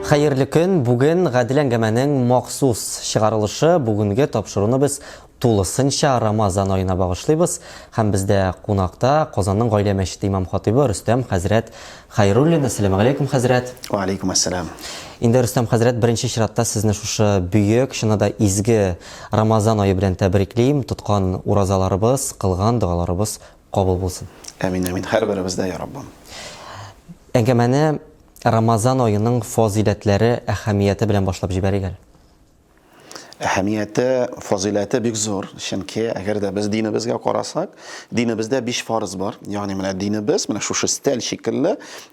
Хәерле көн! Бүген Гадел әңгәмәнең махсус чыгарылышы. Бүгенге тапшыруны без тулысынча Рамазан аена багышлыйбыз. Һәм бездә кунакта Казанның Гаилә мәчете имам-хатыйбы Рөстәм хәзрәт Хәйруллин. Әссәламегаләйкүм, хәзрәт! Вә аләйкүм әссәлам! Инде, Рөстәм хәзрәт, беренче чиратта сезне шушы бөек, чыннан да изге Рамазан ае белән тәбриклим. Тоткан уразаларыбыз, кылган догаларыбыз кабул булсын. Әмин, әмин! Һәрберебездә, йа Раббым! Әңгәмәне Рамазан аеның фазыйләтләре, әһәмияте белән башлап җибәрик әле. Әһәмияте, фазыйләте бик зур, чөнки әгәр дә без динебезгә карасак, динебездә биш фарыз бар. Ягъни менә динебез менә шушы стәл шикелле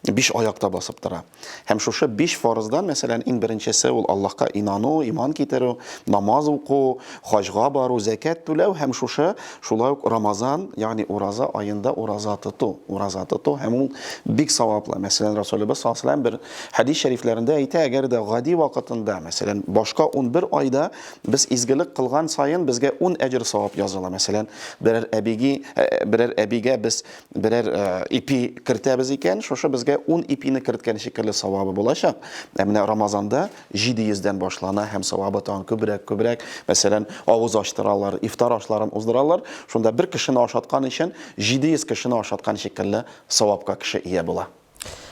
биш аякта басып тора. Һәм шушы биш фарыздан, мәсәлән, иң беренчесе ул Аллаһка инану, иман китерү, намаз уку, хаҗга бару, зәкят түләү һәм шушы Шулай ук Рамазан, ягъни ураза аенда ураза тоту, ураза тоту һәм ул бик саваплы. Мәсәлән, Расулебез саллаллаһу алейһи бер хәдис шәрифләрендә әйтә, әгәр дә гади вакытында, мәсәлән, башка 11 айда без изгелек кылган саен безгә 10 әҗер савап языла. Мәсәлән, берәр әбиге, э, берәр әбигә без берәр э, ипи кертәбез икән, шушы безгә 10 ипине керткән шикелле савабы булачак. Ә менә Рамазанда 700 дән башлана һәм савабы тагын күбрәк, күбрәк. Мәсәлән, авыз ачтыралар, ифтар ашларын уздыралар. Шунда бер кешене ашаткан өчен 700 кешене ашаткан шикелле савапка кеше ия була.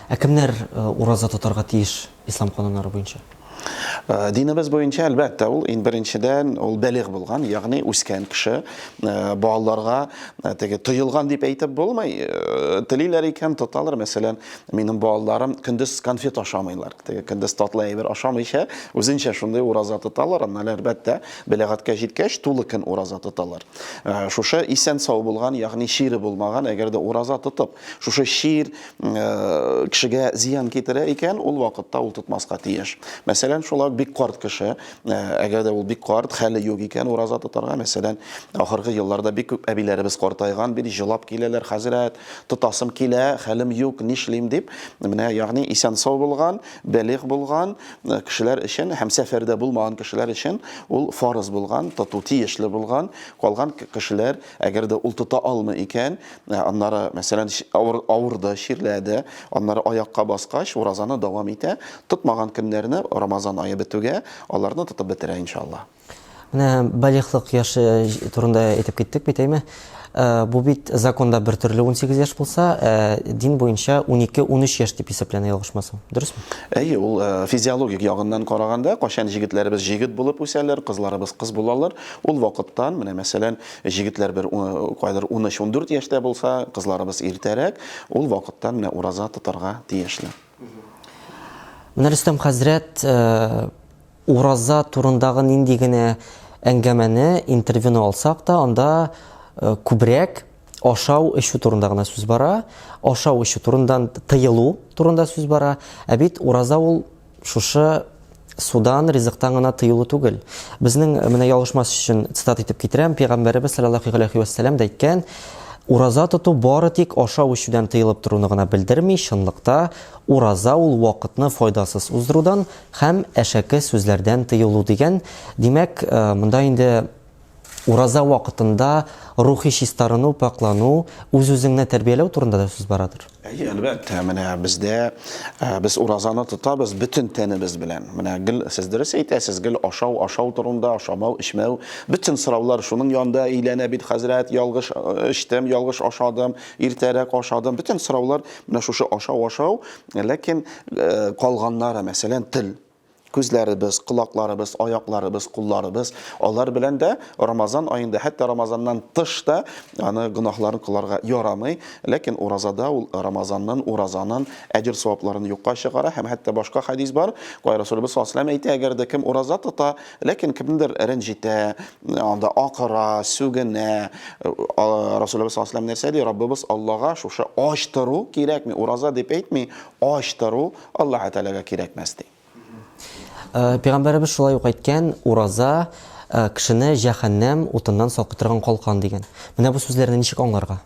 Ә кемнәр ураза тотарга тиеш ислам кануннары буенча? Динебез буенча, әлбәттә, ул ин беренчедән ул бәлигъ булган, ягъни үскән кеше. Балаларга теге тыелган дип әйтеп булмый. Телиләр икән, тоталар. Мәсәлән, минем балаларым көндез конфет ашамыйлар. Теге кендез татлы әйбер ашамыйча, үзенчә шундый ураза тоталар, аннан әлбәттә, бәләгатькә җиткәч, тулы көн ураза тоталар. Э, шушы исән сау булган, ягъни чире булмаган, әгәр дә ураза тотып, шушы чир э, кешегә зыян китерә икән, ул вакытта ул тотмаска тиеш. Мәсәлән, шулай бик карт кеше, э, әгәр дә ул бик карт, хәле юк икән ураза тотарга, мәсәлән, ахыргы елларда бик күп әбиләребез картайган, бик җылап киләләр, хәзрәт, Тотасым килә, хәлем юк, нишлим, дип, менә ягъни исән-сау булган, бәлигъ булган кешеләр өчен һәм сәфәрдә булмаган кешеләр өчен ул фарыз булган, тоту тиешле булган. Калган кешеләр, әгәр дә ул тота алмый икән, аннары, мәсәлән, авырды, чирләде, аннары аякка баскач, уразаны дәвам итә, тотмаган көннәрне, Рамазан ае бетүгә, аларны тотып бетерә, иншаллаһ. Менә балигълык яше турында әйтеп киттек бит, әйме? Э, бу бит законда бер төрле 18 яшь булса, э, дин буенча 12-13 яшь дип исәпләнә ялгышмасам. Дөресме? Әйе, ул э, физиологик ягыннан караганда, кашан җегетләребез җегет булып үсәләр, кызларыбыз кыз булалар, ул вакыттан, менә мәсәлән, җегетләр бер кайдыр 13-14 яшьтә булса, кызларыбыз иртәрәк, ул вакыттан менә ураза тотарга тиешле. Менә Рөстәм хәзрәт Ураза турындагы нинди генә әңгәмәне, интервьюны алсак та, анда күбрәк ашау, эчү турында гына сүз бара. Ашау, эчү турындан тыелу турында сүз бара. Ә бит ураза ул шушы судан, ризыктан гына тыелу түгел. Безнең менә ялгышмас өчен цитат итеп китерәм, пәйгамбәребез саллаллаху алейхи ва саллям да әйткән, Ураза тоту бары тик ашау ишүдән тыелып торуны гына белдерми, чынлыкта ураза ул вакытны файдасыз уздырудан Һәм әшәке сүзләрдән тыелу дигән, димәк, монда инде ураза вакытында рухи чистарыну, пакълану, үз-үзеңне тәрбияләү турында да сүз барадыр. Әйе, әлбәттә, менә бездә без уразаны тотабыз бөтен тәнебез белән. Менә гел сез дөрес әйтәсез, гел ашау, ашау турында, ашамау, эчмәү, бөтен сораулар шуның янында әйләнә бит, хәзрәт, ялгыш эчтем, ялгыш ашадым, иртәрәк ашадым, бөтен сораулар менә шушы ашау, ашау, Ләкин э, калганнары, мәсәлән, тел, күзләребез, колакларыбыз, аякларыбыз, кулларыбыз, алар белән дә Рамазан аенда, хәтта Рамазаннан тыш та аны гөнаһларын кыларга ярамый. Ләкин уразада ул Рамазаннан уразанын әҗер савапларын юкка чыгара һәм хәтта башка хадис бар. Кай Расулыбыз саллаллаһу әйтә, әгәр дә кем ураза тота, Ләкин кемдер рәнҗитә, анда акыра, сүгенә. Расулыбыз саллаллаһу алейһи нәрсә ди? Раббыбыз Аллага шушы ач тору кирәкми, ураза дип әйтми, ач тору Аллаһ Тәгаләгә кирәкмәс ди. Э, пәйгамбәребез шулай ук әйткән ураза э, кешене җәһәннәм утыннан сакый торган калкан дигән менә бу сүзләрне ничек аңларга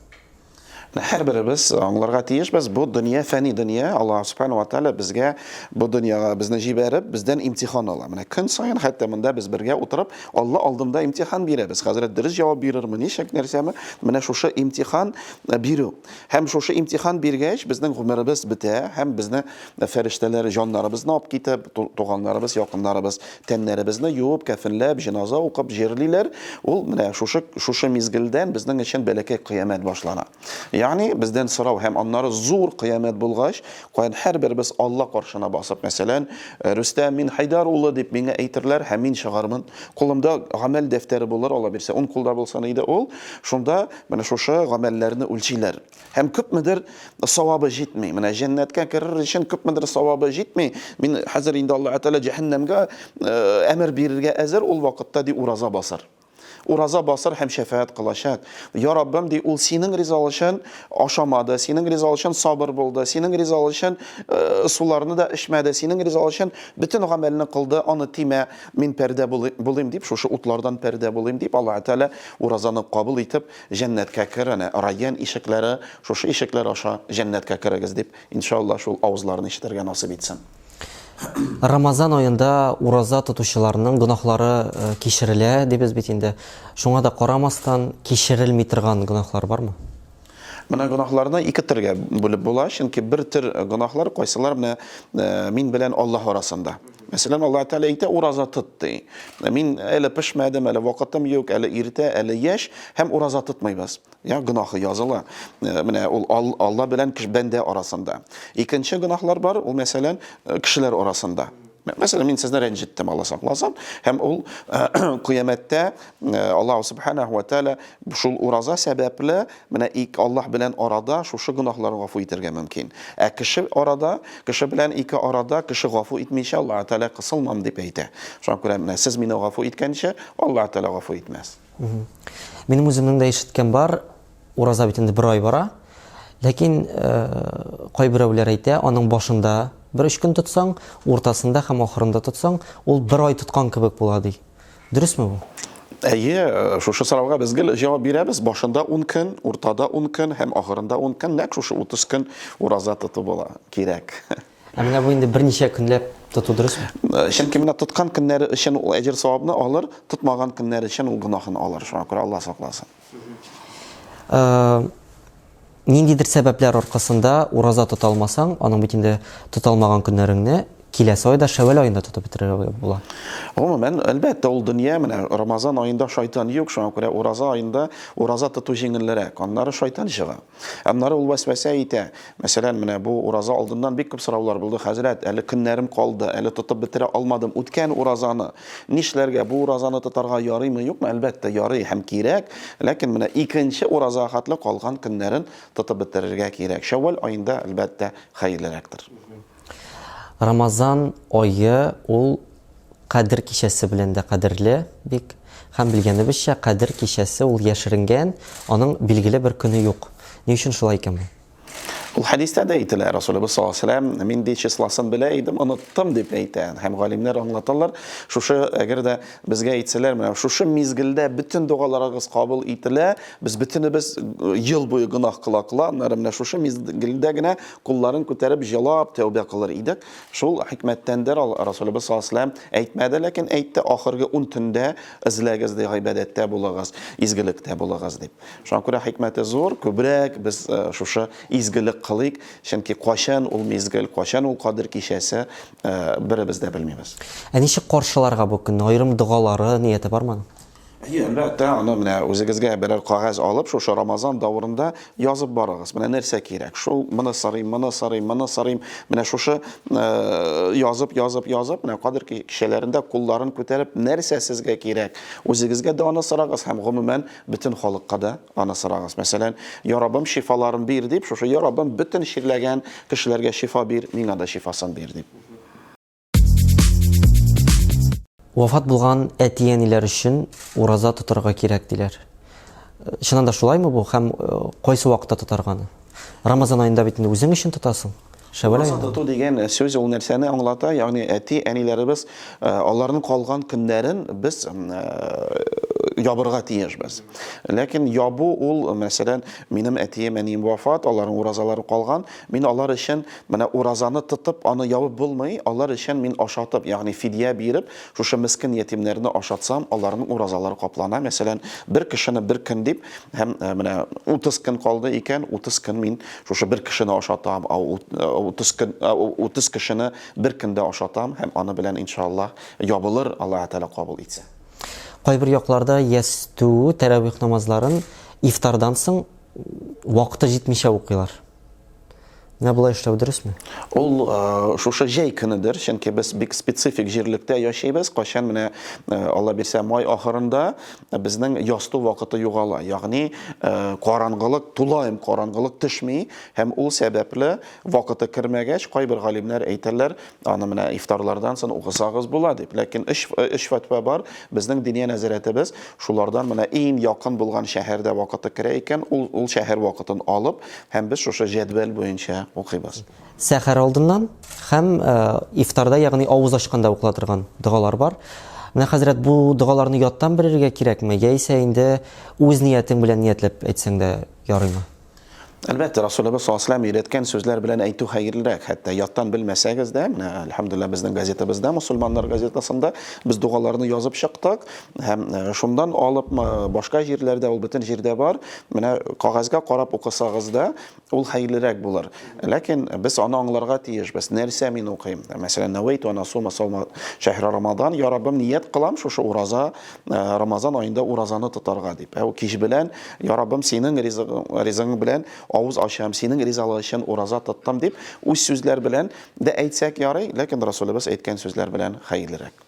Һәрберебез аңларга тиешбез, бу дөнья фәни дөнья, Аллаһ Субхана ва Тәгалә безгә бу дөньяга безне җибәреп, бездән имтихан ала. Менә көн саен хәтта монда без бергә утырып, Алла алдында имтихан бирәбез. Хәзрәт дөрес җавап бирерме, ничек нәрсәме? Менә шушы имтихан э, бирү. Һәм шушы имтихан биргәч, безнең гомеребез бетә һәм безне фәрештәләр җаннарыбызны алып китеп, туганнарыбыз, якыннарыбыз Тәннәребезне юып, кәфенләп, җеназа укып җирлиләр. Ул менә шушы шушы мизгелдән безнең өчен бәләкәй кыямәт башлана. Ягъни бездән сорау һәм аннары зур кыямәт булгач, каян һәрберебез Алла каршына басып, мәсәлән, Рөстәм, мин Хәйдәр улы дип миңа әйтерләр һәм мин чыгармын. Кулымда гамәл дәфтәре булыр, Алла бирсә, ун кулда булсын иде ул. Шунда менә шушы гамәлләрне үлчиләр. Һәм күпмедер савабы җитми. Менә җәннәткә керер өчен күпмедер савабы җитми. Мин хәзер инде Аллаһ Тәгалә җәһәннәмгә әмер бирергә әзер ул вакытта ди ураза басар. Ураза басар һәм шәфәгать кылачак. Я Раббым ди, ул синең ризалык өчен ашамады, синең ризалык өчен сабыр булды, синең ризалык өчен суларны да эчмәде, синең ризалык өчен бөтен гамәлне кылды, аны тимә, мин пәрдә булыйм дип, шушы утлардан пәрдә булыйм дип, Аллаһ Тәгалә уразаны кабул итеп, Җәннәткә кер, әнә, Райян ишекләре, шушы ишекләр аша җәннәткә керегез, дип, иншалла, шул авызларны ишетергә насыйп итсен. Рамазан аенда ураза тотучыларның гөнаһлары кичерелә, дибез бит инде. Шуңа да карамастан, кичерелми торган гөнаһлар бармы? Менә гөнаһларны ике төргә бүлеп була, чөнки бер төр гөнаһлар кайсылар менә мин белән Аллаһ арасында. Мәсәлән, Аллаһ Тәгалә әйтә, ураза тот, ди. Мин әле пешмәдем, әле вакытым юк, әле иртә, әле яшь һәм ураза тотмыйбыз. Я гынахы языла. Э, менә ул Алла белән кеше бәндә арасында. Икенче гынахлар бар, ул мәсәлән, э, кешеләр арасында. Мәсәлән, мин сезне рәнҗеттем, Алла сакласын, һәм ул э, кыямәттә Аллаһ Субханаһу ва Тәгалә шул ураза сәбәпле Менә ик Аллаһ белән арада шушы гөнаһлар гафу итәргә мөмкин. Ә кеше арада, кеше белән ике арада кеше гафу итмичә Аллаһы Тәгалә кысылмам дип әйтә. Шуңа күрә менә сез мине гафу иткәнче, Аллаһы Тәгалә гафу итмәс. Минем үземнең дә ишеткән бар, ураза бит инде бер ай бара. Ләкин кайберәүләр әйтә, аның башында бер өч көн тотсаң, уртасында һәм ахырында тотсаң, ул бер ай тоткан кебек була ди. Дөресме бу? Әйе, шушы сорауга без гел җавап бирәбез. Башында 10 көн, уртада 10 көн һәм ахырында 10 көн, нәкъ шушы 30 көн ураза тоту була, кирәк. Ә менә бу инде берничә көнләп тоту дөресме? Э, чөнки менә тоткан көннәре өчен ул әҗер савабны алыр, тотмаган көннәре өчен ул гөнаһын алыр. Шуңа күрә Алла сакласын. Ниндидер сәбәпләр аркасында ураза тота алмасаң, аның бит инде тота алмаган көннәреңне киләсе айда Шәвәл аенда тотып бетерергә була. Гомумән, әлбәттә, ул дөнья менә Рамазан аенда шайтан юк, шуңа күрә ураза аенда ураза тоту җиңелрәк. Аннары шайтан чыга. Аннары ул вәсвәсә итә. Мәсәлән, менә бу ураза алдыннан бик күп сораулар булды, хәзрәт, әле көннәрем калды, әле тотып бетерә алмадым үткән уразаны. Нишләргә? Бу уразаны тотарга ярыймы, юкмы? Әлбәттә, ярый һәм кирәк. Ләкин менә икенче ураза хәтле калган көннәрен тотып бетерергә кирәк. Шәввал аенда, әлбәттә, хәерлерәктер. Рамазан ае ул Кадер кичәсе белән дә кадерле бик. Һәм белгәнебезчә, Кадер кичәсе ул яшеренгән, аның билгеле бер көне юк. Ни өчен шулай икән бу? Ул хәдистә дә әйтелә, Расулебез саллаллаһу алейһи ва сәлләм, мин ди числосын белә идем, оныттым, дип әйтә. Һәм галимнәр аңлаталар, шушы, әгәр дә безгә әйтсәләр, менә шушы мизгелдә бөтен догаларыгыз кабул ителә, без бөтенебез ел буе гөнаһ кыла-кыла, аннары менә шушы мизгелдә генә Кулларын күтәреп җылап тәүбә кылыр идек. Шул хикмәттәндер ал, Расулебез саллаллаһу алейһи ва сәлләм әйтмәде, ләкин әйтте, ахыргы ун төндә эзләгез, ди, гыйбадәттә булыгыз, изгелектә булыгыз, дип. Шуңа күрә хикмәте зур, күбрәк без шушы изгелек кылыйк, чөнки кайчан ул мизгел, кайчан ул Кадер кичәсе, беребез дә белмибез. Ә ничек каршыларга бу көнне? Аерым догалары, нияте бармы аның? Әйе, әлбәттә, аны менә үзегезгә берәр кагаз алып, шушы Рамазан давырында язып барыгыз. Менә нәрсә кирәк? Шул моны сорыйм, моны сорыйм, моны сорыйм. Менә шушы э, язып, язып, язып, менә кадер кичәләрендә кулларын күтәреп, нәрсә сезгә кирәк? Үзегезгә дә аны сорагыз һәм гомумән бөтен халыкка да аны сорагыз. Мәсәлән, "Я Раббым, шифаларын бир" дип, шушы "Я Раббым, бөтен чирләгән кешеләргә шифа бир, миңа да шифасын бир" дип. Вафат булган әти-әниләр өчен ураза тотарга кирәк диләр. Чыннан да шулаймы бу һәм э, кайсы вакытта тотарганы? Рамазан аенда бит инде үзең өчен тотасың. Шәвәлә Ураза тоту дигән э, сүз ул нәрсәне аңлата? Ягъни әти-әниләребез э, аларның калган көннәрен без ябырга тиешбез. Ләкин ябу ул, мәсәлән, минем әтием, әнием вафат, аларның уразалары калган, Мин алар өчен, менә уразаны тотып, аны ябып булмый, алар өчен мин ашатып, ягъни фидия биреп, шушы мескен ятимнәрне ашатсам, аларның уразалары каплана, мәсәлән, бер кешене бер көн дип, һәм менә 30 көн калды икән, 30 көн мин шушы бер кешене ашатам, 30 көн, 30 кешене бер көндә ашатам, һәм аны белән, иншааллаһ, ябылыр, Аллаһы Тәгалә кабул итсә. Кайбер якларда ястү, тәравих намазларын ифтардан соң, вакыты җитмичә укыйлар. Менә болай эшләү дөресме? Ул э, шушы җәй көнедер, чөнки без бик специфик җирлектә яшәйбез. Кайчан менә э, Алла бирсә май ахырында безнең ясту вакыты югала. Ягъни э, караңгылык, тулаем караңгылык төшми һәм ул сәбәпле вакыты кермәгәч, кайбер галимнәр әйтәләр, Аны менә ифтарлардан сон укысагыз була дип. Ләкин өч өч фәтва бар. Безнең диния нәзарәтебез шулардан менә иң якын булган шәһәрдә вакыты керә икән, ул ул шәһәр вакытын алып, һәм без шушы җәдвәл буенча укыйбыз. Сәхәр алдыннан һәм ифтарда, ягъни авыз ачканда укыла торган догалар бар. Менә хәзрәт бу догаларны яттан белергә кирәкме, яисә инде үз ниятең белән ниятләп әйтсәң дә ярыймы? Әлбәттә, Расулыбыз саллаллаһу алейһи ва сәлләм өйрәткән сүзләр белән әйтү хәерлерәк. Хәтта яттан белмәсәгез дә, менә әлхәмдулиллаһ безнең газетабызда, мусульманнар газетасында без дугаларны язып чыктык һәм э, шундан алып башка җирләрдә ул бөтен җирдә бар. Менә кагазьгә карап укысагыз да, ул хәерлерәк булыр. Ләкин без аны аңларга тиешбез. Нәрсә мин укыйм? Мәсәлән, Навайту ана сума саума шәһри Рамадан, я Раббым, ният кылам шушы ураза Э, рамазан айында уразаны тотарга дип ә кич белән я раббым синең ризыгың белән авыз ачам синең ризалыгы өчен ураза тоттым дип үз сүзләр белән дә әйтсәк ярый ләкин расулебез әйткән сүзләр белән хәерлерәк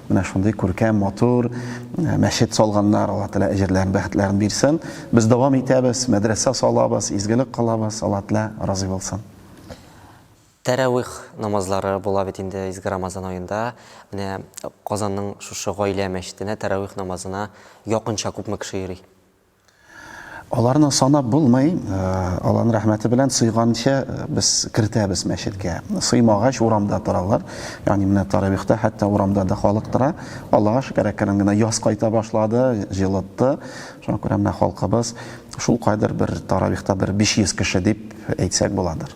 Менә шундый күркәм, матур э, мәчет салганнар, Алла Тәала әҗерләрен, бәхетләрен бирсен. Без дәвам итәбез, мәдрәсә салабыз, изгелек кылабыз, Алла Тәала разый булсын. Тәравих намазлары була бит инде изге Рамазан аенда. Менә Казанның шушы гаилә мәчетенә тәравих намазына якынча күпме кеше йөри? Аларны санап булмый, Алланың рәхмәте белән сыйганча без кертәбез мәчеткә. Сыймагач урамда торалар. Ягъни менә таравихта хәтта урамда да халык тора. Аллага шөкер, әкрен генә яз кайта башлады, җылытты. Шуңа күрә менә халкыбыз шул кадәр бер таравихта бер 500 кеше дип әйтсәк буладыр.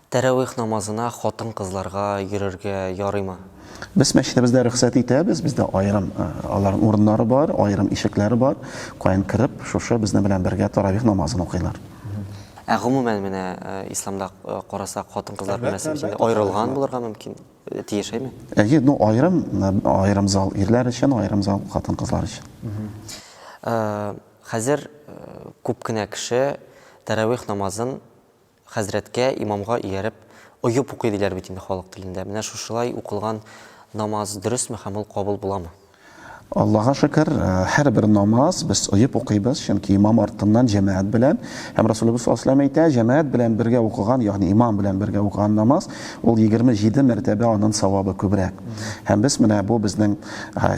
Тәравих намазына хатын-кызларга йөрергә ярыймы? Без мәчетебездә рөхсәт итәбез, бездә аерым аларның урыннары бар, аерым ишекләре бар, каян кереп, шушы безнең белән бергә тәравих намазын укыйлар. Ә гомумән менә исламда карасак, хатын-кызлар мәсьәләсе өчен аерылган булырга мөмкин, тиеш әйме? Әйе, ну аерым, аерым зал ирләр өчен, аерым зал хатын-кызлар өчен. Хәзер күп кенә кеше тәравих намазын Хәзрәткә, имамга ияреп, оеп укый диләр бит инде халык телендә. Менә шушылай укылган намаз дөресме һәм ул кабул буламы? Аллага шөкер, һәрбер намаз без оеп укыйбыз, чөнки имам артыннан җәмәгать белән. Һәм Расулебез саллаллаһу галәйһи ва сәлләм әйтә, җәмәгать белән бергә укыган, ягъни имам белән бергә укыган намаз, ул егерме җиде мәртәбә анын савабы күбрәк. Һәм без менә бу безнең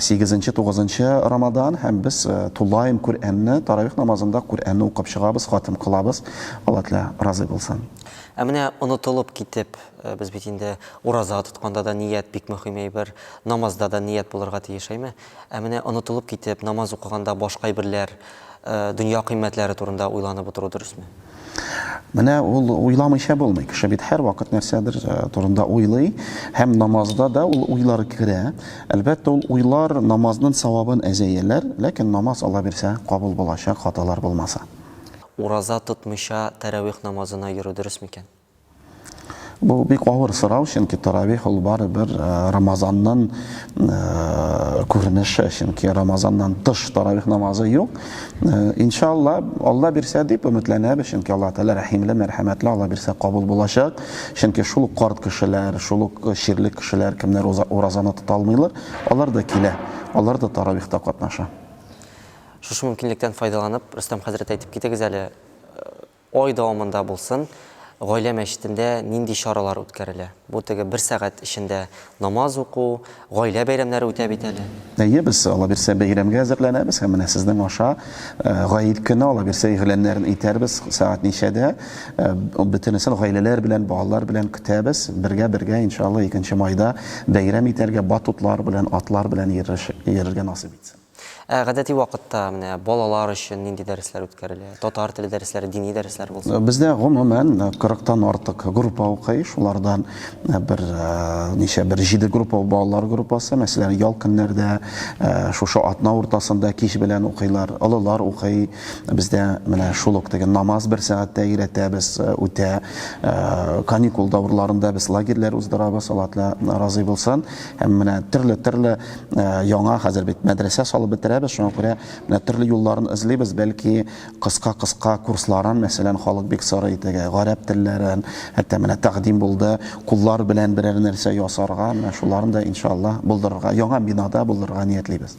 сигезенче, тугызынчы Рамадан һәм без тулаем Күръәнне, таравих намазында Күръәнне укып чыгабыз, хатым кылабыз. Алла Тәгалә разый булсын. Ә менә онытылып китеп, без бит инде ураза тотканда да ният бик мөһим әйбер, намазда да ният булырга тиеш, әйме? Ә менә онытылып китеп, намаз укыганда башка әйберләр, дөнья кыйммәтләре турында уйланып утыру дөресме? Менә ул уйламыйча булмый. Кеше бит һәрвакыт нәрсәдер э, турында уйлый, һәм намазда да ул уйлар керә. Әлбәттә, ул уйлар намазның савабын әзәяләр, ләкин намаз Алла бирсә кабул булачак, хаталар булмаса. Ураза тотмыйча тәравих намазына йөрү дөрес микән? Бу бик авыр сорау, чөнки тәравих ул барыбер Рамазанның күренеше, чөнки Рамазаннан тыш тәравих намазы юк. Иншалла, Алла бирсә дип өметләнәбез, чөнки Алла Тәгалә рәхимле, мәрхәмәтле, Алла бирсә кабул булачак. Чөнки шул ук карт кешеләр, шул ук чирле кешеләр, кемнәр уразаны тота алмыйлар, алар да килә, алар да тәравихта катнаша. Шушы мөмкинлектән файдаланып, Рөстәм хәзрәт, әйтеп китегез әле, ай дәвамында булсын, гаилә мәчетендә нинди чаралар үткәрелә? Бу теге бер сәгать эчендә намаз уку, гаилә бәйрәмнәре үтә бит әле. Әйе, без, аллабирсә, бәйрәмгә әзерләнәбез һәм менә сезнең аша Гает көне, аллабирсә, игъланнарын итәрбез, сәгать ничәдә, бөтенесен гаиләләр белән, балалар белән көтәбез, бергә-бергә, иншалла, икенче майда бәйрәм итәргә, батутлар белән, атлар белән йөрергә насыйп итсен. Ә гадәти вакытта менә балалар өчен нинди дәресләр үткәрелә? Татар теле дәресләре, дини дәресләр булсын. Бездә гомумән 40 тан артык группа укый. Шулардан бер ничә бер җиде группа балалар группасы, мәсәлән, ял көннәрдә, шушы атна уртасында кич белән укыйлар. Олылар укый. Бездә менә шул ук теге намаз бер сәгатьтә өйрәтәбез, үтә. Каникул дәверләрендә без лагерьләр уздырабыз, Алла Тәгалә разый булсын. Һәм менә төрле-төрле Э, яңа хәзер бит мәдрәсә салып бетерәбез шуңа күрә менә төрле юлларын эзлибез бәлки кыска кыска курсларын мәсәлән халык бик сорый теге гарәп телләрен хәтта менә тәкъдим булды куллар белән берәр нәрсә ясарга менә шуларын да иншалла булдырырга яңа бинада булдырырга ниятлибез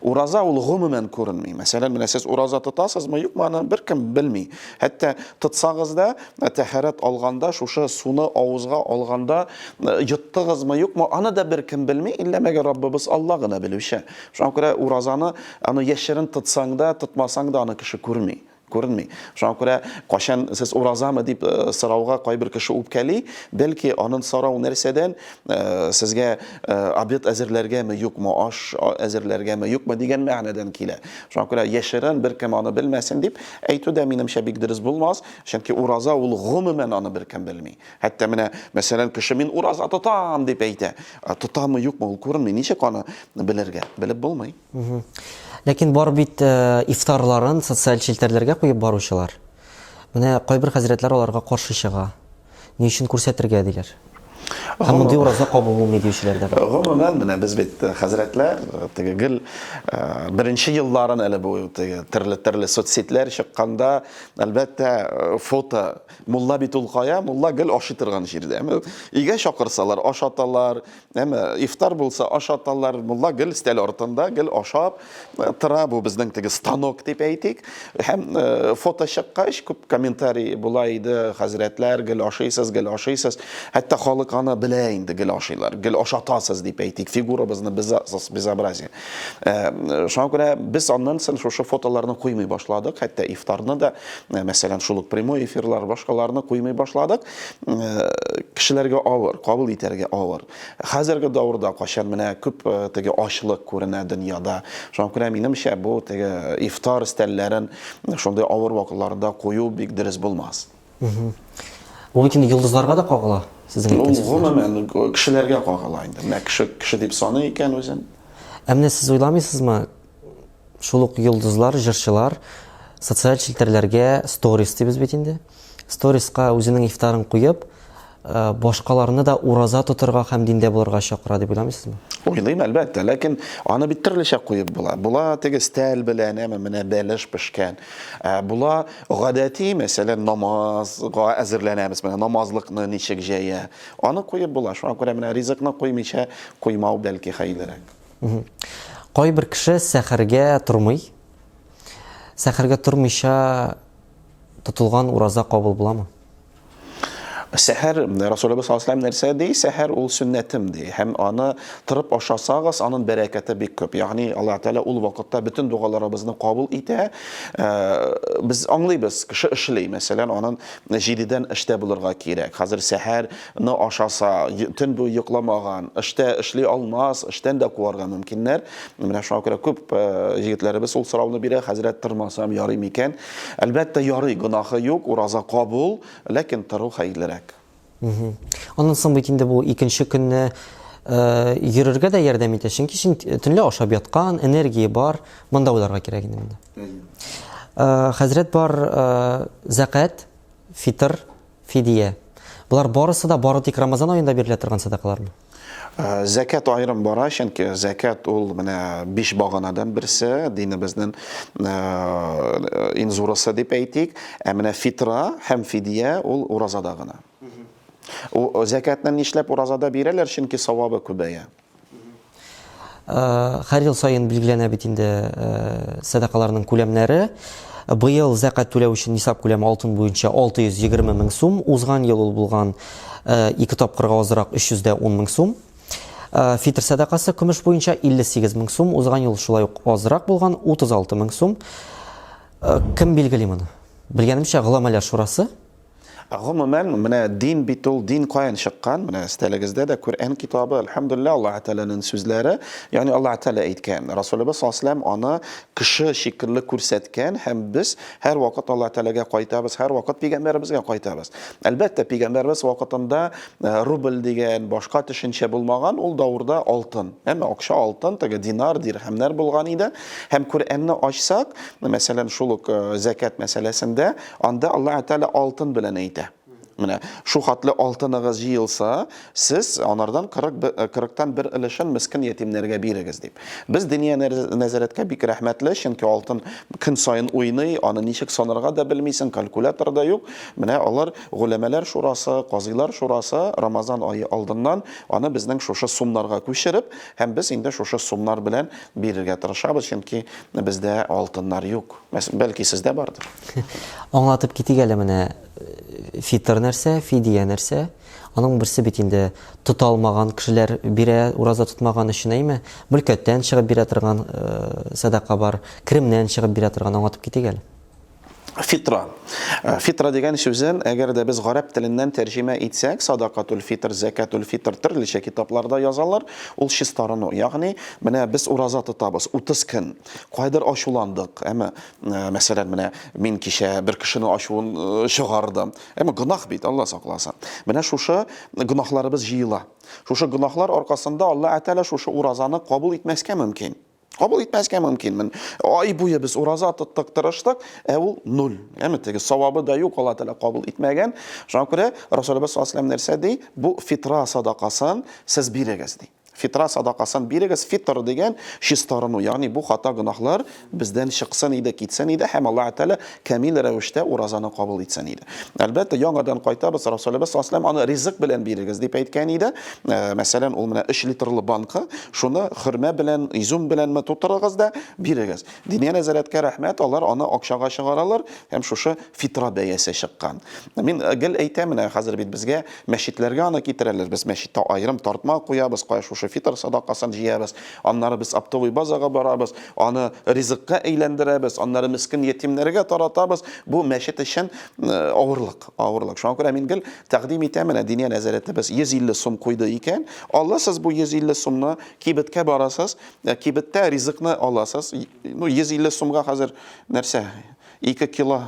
Ураза ул гомумән күренми. Мәсәлән, менә сез ураза тотасызмы, юкмы, аны беркем белми. Хәтта тотсагыз да, ә, тәһарәт алганда, шушы суны авызга алганда, ә, йоттыгызмы, юкмы, аны да беркем белми, иллә мәгәр Раббыбыз Алла гына белүче. Шуңа күрә уразаны, аны яшерен тотсаң да, тотмасаң да аны кеше күрми. Күренми. Шуңа күрә, кайчан сез уразамы дип сорауга кайбер кеше үпкәли, бәлки анын сорау нәрсәдән, сезгә обед әзерләргәме, юкмы, аш әзерләргәме, юкмы дигән мәгънәдән килә. Шуңа күрә яшерен, беркем аны белмәсен дип әйтү дә, минемчә, бик дөрес булмас, чөнки ураза ул гомумән аны беркем белми. Хәтта менә, мәсәлән, кеше мин ураза тотам дип әйтә, тотамы, юкмы ул күренми, ничек аны белергә? Белеп булмый. Ләкин бар бит ифтарларын социаль челтәрләргә куеп баручылар. Менә кайбер хәзрәтләр аларга каршы чыга. Ни өчен күрсәтергә диләр? Һәм мондый ураза кабул булмый диючеләр дә бар. Гомумән, менә без бит хәзрәтләр, теге гел беренче елларын әле бу теге төрле-төрле соцсетьләр чыкканда, әлбәттә, фото. Мулла бит ул кая? Мулла гел ашый торган җирдә. Өйгә чакырсалар, ашаталар, Әмма ифтар булса ашаталар, мулла гел стәл артында, гел ашап э, тора бу безнең теге станок дип әйтик. Һәм э, фото чыккач күп комментарий була иде, хәзрәтләр гел ашыйсыз, гел ашыйсыз. Хәтта халык аны белә инде гел ашыйлар, гел ашатасыз дип әйтик, фигурабызны безобразие. Э, шуңа күрә без аннан соң шушы фотоларны куймый башладык, хәтта ифтарны да, мәсәлән, шул ук прямой эфирлар, башкаларны куймый башладык. кешеләргә авыр, кабул итәргә авыр. Хәзерге давырда качан менә күп теге ачлык күренә дөньяда. Шуңа күрә минемчә бу теге ифтар стәлләрен шундый авыр вакытларда кую бик дөрес булмас. Бу бит инде йолдызларга да кагыла, сезнең әйткәнегез. Бу гомумән кешеләргә кагыла инде. Менә кеше кеше дип саный икән үзен. Ә менә сез уйламыйсызмы, Шул ук йолдызлар, җырчылар социаль челтәрләргә сторис дибез бит инде. Сториска үзенең ифтарын куеп, э, башкаларны да ураза тотырга һәм диндә булырга чакыра дип уйламыйсызмы? Уйлыйм, әлбәттә, ләкин аны бит төрлечә куеп була. Була теге стәл белән, әмма менә бәлеш пешкән. Ә, була гадәти, мәсәлән, намазга әзерләнәбез, менә намазлыкны ничек җәя. Аны куеп була. Шуңа күрә менә ризыкны куймыйча куймау бәлки хәерлерәк. Кайбер кеше сәхәргә тормый. Сәхәргә тормыйча тотылган ураза кабул буламы? Сәхәр Расулыбыз саллаллаһу алейһи нәрсә ди? Сәхәр ул сөннәтем ди. Һәм аны тырып ашасагыз, аның бәрәкәте бик күп. Ягъни Аллаһ Тәгалә ул вакытта бөтен дугаларыбызны кабул итә. Э, без аңлыйбыз, кеше эшли, мәсәлән, аның 7 эштә булырга кирәк. Хәзер сәхәр ны ашаса, төн буе йокламаган, эштә эшли алмас, эштән дә куарга мөмкиннәр. Менә шуңа күрә күп э, егетләребез ул сорауны бирә, хәзрәт тырмасам ярый микән? Әлбәттә ярый, гөнаһы юк, ураза кабул, ләкин тыру хәерлерәк. Аннан соң бит инде бу икенче көнне э, йөрергә дә ярдәм итә, чөнки син төнлә ашап яткан, энергия бар, монда уйларга кирәк инде монда. Э, хәзрәт бар, э, зәкәт, фитр, Фидия. Болар барысы да бары тик Рамазан аенда бирелә торган садакалармы? Зәкәт аерым бара, чөнки зәкәт ул менә биш баганадан берсе, динебезнең иң зурысы дип әйтик. Ә менә фитра һәм фидия ул уразада гына. Зәкәтне нишләп уразада бирәләр? Чөнки савабы күбәя. Һәр ел саен билгеләнә бит инде сәдакаларның күләмнәре. Быел зәкать түләү өчен нисап күләме алтын буенча 620 мең сум, узган ел ул булган ике тапкырга азрак 310 мең сум. Фитр сәдакасы көмеш буенча 58 мең сум, узган ел шулай ук азрак булган 36 мең сум. Кем билгели моны? Белгәнемчә, Голамәләр шурасы. Ә гомумән, менә дин бит ул, дин каян чыккан? Менә стәлегездә дә Коръән китабы, әлхәмдулилла, Аллаһ Тәгаләнең сүзләре, ягъни Аллаһ Тәгалә әйткән. Расулыбыз саллаллаһу алейһи ва аны кеше шикелле күрсәткән һәм без һәрвакыт Аллаһ Тәгаләгә кайтабыз, һәрвакыт пигамбәребезгә кайтабыз. Әлбәттә, пигамбәребез вакытында э, рубль дигән башка төшенчә булмаган, ул даурда алтын. Әмма акча алтын, теге динар, дирхәмнәр булган иде. Һәм Коръәнне ачсак, мәсәлән, шул ук э, зәкәт мәсьәләсендә Анда Аллаһ Тәгалә алтын белән әйтә. Менә шул хатлы алтыныгыз җыелса, сез анардан 40 40тан бер өлешен мескин ятимнәргә бирегез дип. Без Диния нәзарәткә бик рәхмәтле, чөнки алтын көн саен уйный, аны ничек санарга да белмисең, калькулятор да юк. Менә алар голәмәләр шурасы, казыйлар шурасы Рамазан ае алдыннан аны безнең шушы сумнарга күчереп, һәм без инде шушы сумнар белән бирергә тырышабыз, чөнки бездә алтыннар юк. Бәлки сездә бардыр. Аңлатып китик әле менә фитр нәрсә, фидия нәрсә. Аның берсе бит инде тота алмаган кешеләр бирә, ураза тотмаган өчен әйме? Мөлкәттән чыгып бирә торган э, садака бар, керемнән чыгып бирә торган аңлатып китик әле. Фитра. Э, фитра дигән сүзен, әгәр дә без гарәп теленнән тәрҗемә итсәк, садакатул фитр, зәкатул фитр төрлечә китапларда язалар. Ул чистарыну. Ягъни, менә без ураза тотабыз 30 көн. Кайдыр ачуландык, әмма, мәсәлән, менә мин кичә бер кешенең ачуын чыгардым. Әмма гөнаһ бит, Алла сакласын. Менә шушы гөнаһларыбыз җыела. Шушы гөнаһлар аркасында Алла Атәлә шушы уразаны кабул итмәскә мөмкин. Кабул итмәскә мөмкин. Мен ай буе без ураза тоттык, тырыштык, ә ул нуль. Әмма теге савабы да юк, Алла Атәлә кабул итмәгән. Шуңа күрә Расулыбыз саллаллаһу нәрсә ди? Бу фитра садакасын сез бирегез ди. Фитра садакасын бирегез. Фитр дигән чистарыну, ягъни бу хата гөнаһлар бездән чыксын иде, китсен иде һәм Аллаһ Тәгалә камил рәвештә уразаны кабул итсен иде. Әлбәттә, яңадан кайтабыз, Расулебез саллаллаһу алейһи аны ризык белән бирегез дип әйткән иде. Э, мәсәлән, ул менә 3 литрлы банка, шуны хөрмә белән, изюм беләнме тутырыгыз да бирегез. Диния нәзарәткә рәхмәт, алар аны акчага чыгаралар һәм шушы фитра бәясе чыккан. Мин э, гел әйтәм менә хәзер бит безгә Мәчетләргә аны китерәләр, без мәчеттә аерым тартма куябыз, кая шушы фитыр садакасын җыябыз, аннары без оптовый базага барабыз, аны ризыкка әйләндерәбез, аннары мескен ятимнәргә таратабыз. Бу мәчет өчен авырлык, авырлык. Шуңа күрә мин гел тәкъдим итәм, менә Диния нәзарәтебез 150 сум куйды икән, аласыз бу 150 сумны, кибеткә барасыз, кибеттә ризыкны аласыз. Ну, 150 сумга хәзер нәрсә, ике кило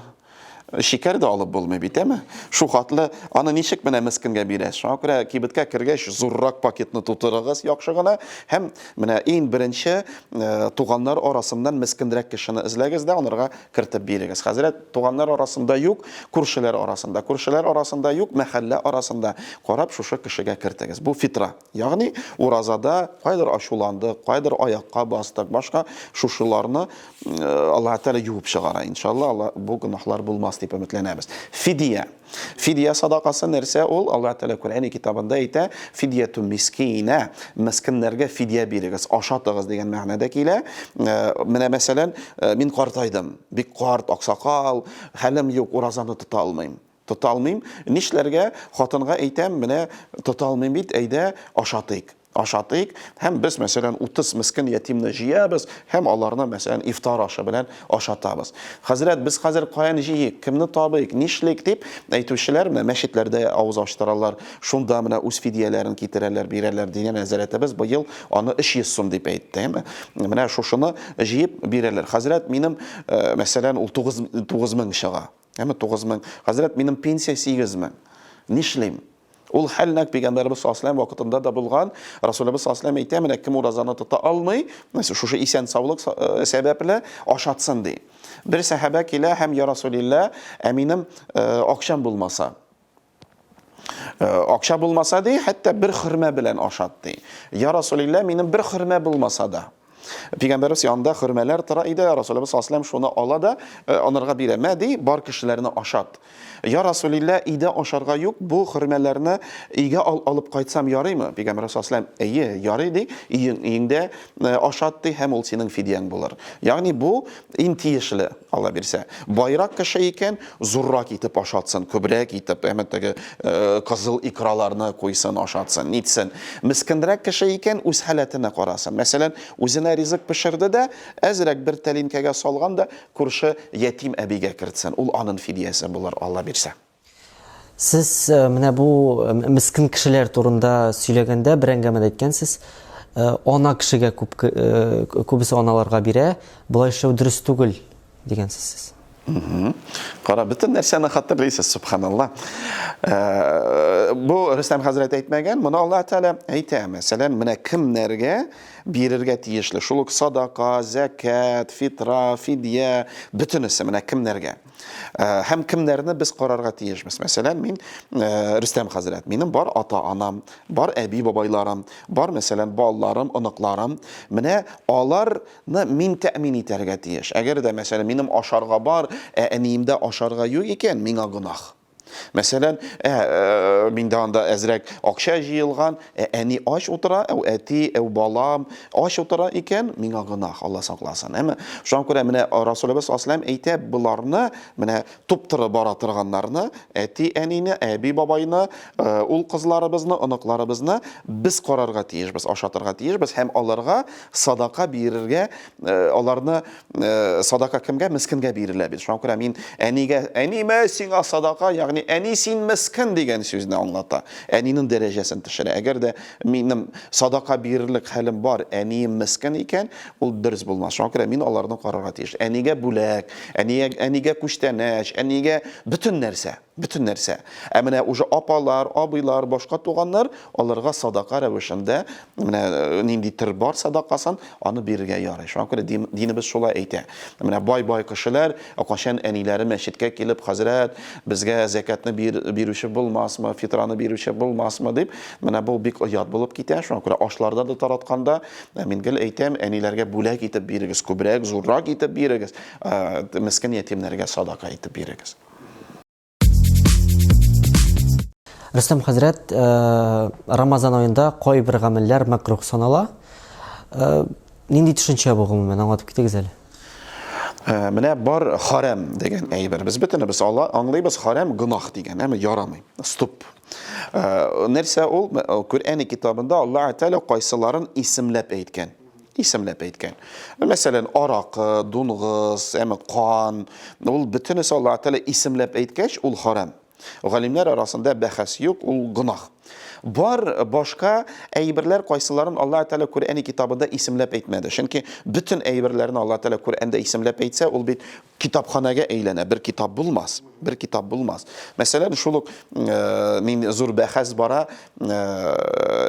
Шикәр дә алып булмый бит, әме? Шухатлы, аны ничек менә мескенгә бирәс? Шуңа күрә кибеткә кергәч, зуррак пакетны тутырыгыз яхшы гына һәм менә иң беренче э, туганнар арасыннан мескенрәк кешене эзләгез дә анырга кертеп бирегез. Хәзрәт, туганнар арасында юк, күршеләр арасында. Күршеләр арасында юк, мәхәллә арасында. Карап, шушы кешегә кертегез. Бу фитра. Ягъни уразада кайдыр ачуландык, кайдыр аякка бастык, башка шушыларны Аллаһ Тәгалә юып чыгара. Иншалла, Алла бу гөнаһлар булмас дип өметләнәбез. Фидия. Фидия садакасы нәрсә ул? Аллаһ Тәгалә Коръәни китабында әйтә, фидияту мискина, мискиннәргә фидия бирегез, ашатыгыз дигән мәгънәдә килә. Менә мәсәлән, мин картайдым, бик карт, аксакал, хәлем юк, уразаны тота алмыйм. Тота алмыйм. Нишләргә? Хатынга әйтәм, менә тота алмыйм бит, әйдә, ашатыйк. Ашатыйк һәм без, мәсәлән, 30 мескин ятимне җыябыз һәм аларны, мәсәлән, ифтар ашы белән ашатабыз. Хәзрәт, без хәзер каян җыйыйк, кемне табыйк, нишлик, дип әйтүчеләр менә мәчетләрдә авыз ачтыралар, шунда менә үз фидияләрен китерәләр, бирәләр. Динә нәзарәтебез быел аны 300 сум дип әйтте. Әмма менә шушыны җыеп бирәләр. Хәзрәт, минем, мәсәлән, ул 9 9000 чыга. Әмма 9 мең. Хәзрәт, минем пенсия 8 мең. Нишлим? Ул хәл нәкъ пәйгамбәрбез саллаллаһу алейһи вакытында да булган. Расулебез саллаллаһу алейһи әйтә, менә кем уразаны тота алмый, мәсәлән, шушы исән саулык э, сәбәпле ашатсын ди. Бер сәхабә килә һәм я Расулилла, ә минем э, акчам булмаса. Акча булмаса ди, хәтта бер хөрмә белән ашат ди. Я Расулилла, минем бер хөрмә булмаса да. Пигамбәрбез янында хөрмәләр тора иде, Расулыбыз саллаллаһу шуны ала да э, анарга бирә. Мә ди, бар кешеләрне ашат. Я Расулилла, өйдә ашарга юк, бу хөрмәләрне өйгә ал, алып кайтсам ярыймы? Пигамбәр саллаллаһу әйе, ярый ди, өең, өеңдә э, ашат ди һәм ул синең фидияң булыр. Ягъни бу иң тиешле Алла бирсә. Байрак кеше икән, зуррак итеп ашатсын, күбрәк итеп, әмма теге кызыл икраларны куйсын, ашатсын, нитсен. Мескенрәк кеше икән, үз халәтенә карасын. Мәсәлән, үзенә ризык пешерде дә, әзрәк бер тәлинкәгә салган да, күрше ятим әбигә кертсен. Ул анын фидиясе булыр, Алла бирсә. Сез менә бу мескин кешеләр турында сөйләгәндә бер әңгәмәдә әйткәнсез, ана кешегә күп күбесе аналарга бирә, болай эшләү дөрес түгел дигәнсез сез. Кара, бөтен нәрсәне хәтерлисез, субханалла. Э, бу Рөстәм хәзрәт әйтмәгән, моны Алла Тәгалә әйтә. Мәсәлән, менә кемнәргә бирергә тиешле? Шул ук садака, зәкят, фитра, фидия, бөтенесе менә кемнәргә? Э, һәм кемнәрне без карарга тиешбез мәсәлән мин э, рөстәм хәзрәт минем бар ата анам бар әби бабайларым бар мәсәлән балаларым оныкларым менә аларны мин тәэмин итәргә тиеш әгәр дә мәсәлән минем ашарга бар ә әниемдә ашарга юк икән миңа гөнаһ Мәсәлән, ә, ә, миндә анда әзрәк акча җыелган, ә, әни ач утыра, әу әти, әу балам ач утыра икән, миңа гынах, Алла сакласын. Әмма шуңа күрә менә Расулыбыз саллаллаһу әйтә, боларны, менә туптыры бара торганнарны, әти, әнине, әби, бабайны, э, ул кызларыбызны, оныкларыбызны без карарга тиешбез, ашатырга тиешбез һәм аларга садака бирергә Э, аларны э, садака кемгә мескенгә бирелә бит шуңа күрә мин әнигә әниме сиңа садака ягъни әни син мескен дигән сүзне аңлата әнинең дәрәҗәсен төшерә әгәр дә минем садака бирерлек хәлем бар әнием мескен икән ул дөрес булмас шуңа күрә мин аларны карарга тиеш әнигә бүләк әнигә, әнигә күчтәнәч әнигә бөтен нәрсә Бөтен нәрсә. Ә менә уже апалар, абыйлар, башка туганнар, аларга садака рәвешендә, менә нинди төр бар садакасын, аны бирергә ярый. Шуңа күрә дин, динебез шулай әйтә. Менә бай-бай кешеләр, ә кайчан әниләре мәчеткә килеп, хәзрәт, безгә зәкятны бир, бирүче булмасмы, фитраны бирүче булмасмы, дип, менә бу бик оят булып китә. Шуңа күрә ашларда да таратканда, мин гел әйтәм, әниләргә бүләк итеп бирегез, күбрәк, зуррак итеп бирегез, мескин ятимнәргә садака итеп бирегез. Рөстәм хәзрәт, э, Рамазан аенда кайбер гамәлләр мәкрух санала. Э, нинди төшенчә бу гомумән, аңлатып китегез әле. Э, менә бар харам дигән әйбер. Без бөтенебез ала, аңлыйбыз харам гөнаһ дигән, әмма ярамый. Стоп. Нәрсә ул? Коръәни китабында Аллаһ Тәгалә кайсыларын исемләп әйткән. Исемләп әйткән. Мәсәлән, аракы, дунгыз, әме кан, ул бөтенесе Аллаһ Тәгалә исемләп әйткәч, ул харам. Галимнәр арасында бәхәс юк, ул гынах. Бар башка әйберләр кайсыларын Алла Тәгалә Коръәни китабында исемләп әйтмәде. Чөнки бөтен әйберләрне Алла Тәгалә Коръәндә исемләп әйтсә, ул бит китапханәгә әйләнә, бер китап булмас. Бер китап булмас. Мәсәлән, шул ук э, мин зур бәхәс бара, э,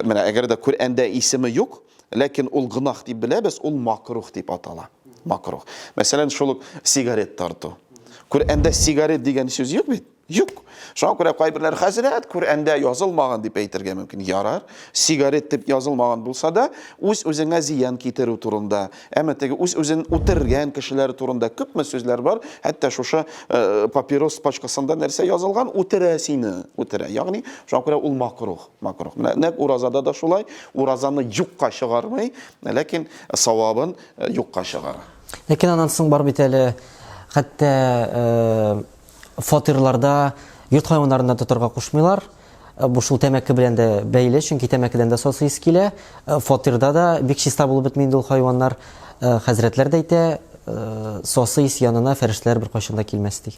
менә әгәр дә Коръәндә исеме юк, Ләкин ул гөнаһ дип беләбез, ул макруһ дип атала. Макруһ. Мәсәлән, шул ук сигарет тарту. Коръәндә сигарет дигән сүз юк бит? Юк. Шуңа күрә кайберләр хәзрәт Коръәндә язылмаган дип әйтергә мөмкин. Ярар, сигарет дип язылмаган булса да, үз-үзеңә зыян китерү турында, әмма теге үз-үзен үтергән кешеләр турында күпме сүзләр бар, хәтта шушы э, папирос пачкасында нәрсә язылган, үтерә сине, үтерә. Ягъни, шуңа күрә ул макруһ. Макрух. Менә нәкъ уразада да шулай, уразаны юкка чыгармый, ләкин савабын э, юкка чыгара. Ләкин аннан соң бар бит әле хәтта э, фатирларда йорт хайваннарын да тотарга кушмыйлар. Э, бу шул тәмәке белән дә бәйле, чөнки тәмәкедән дә сасы ис килә. Э, фатирда да бик чиста булып бетми инде ул хайваннар. Э, хәзрәтләр дә әйтә, э, сасы ис янына фәрештәләр беркайчан да килмәс ди.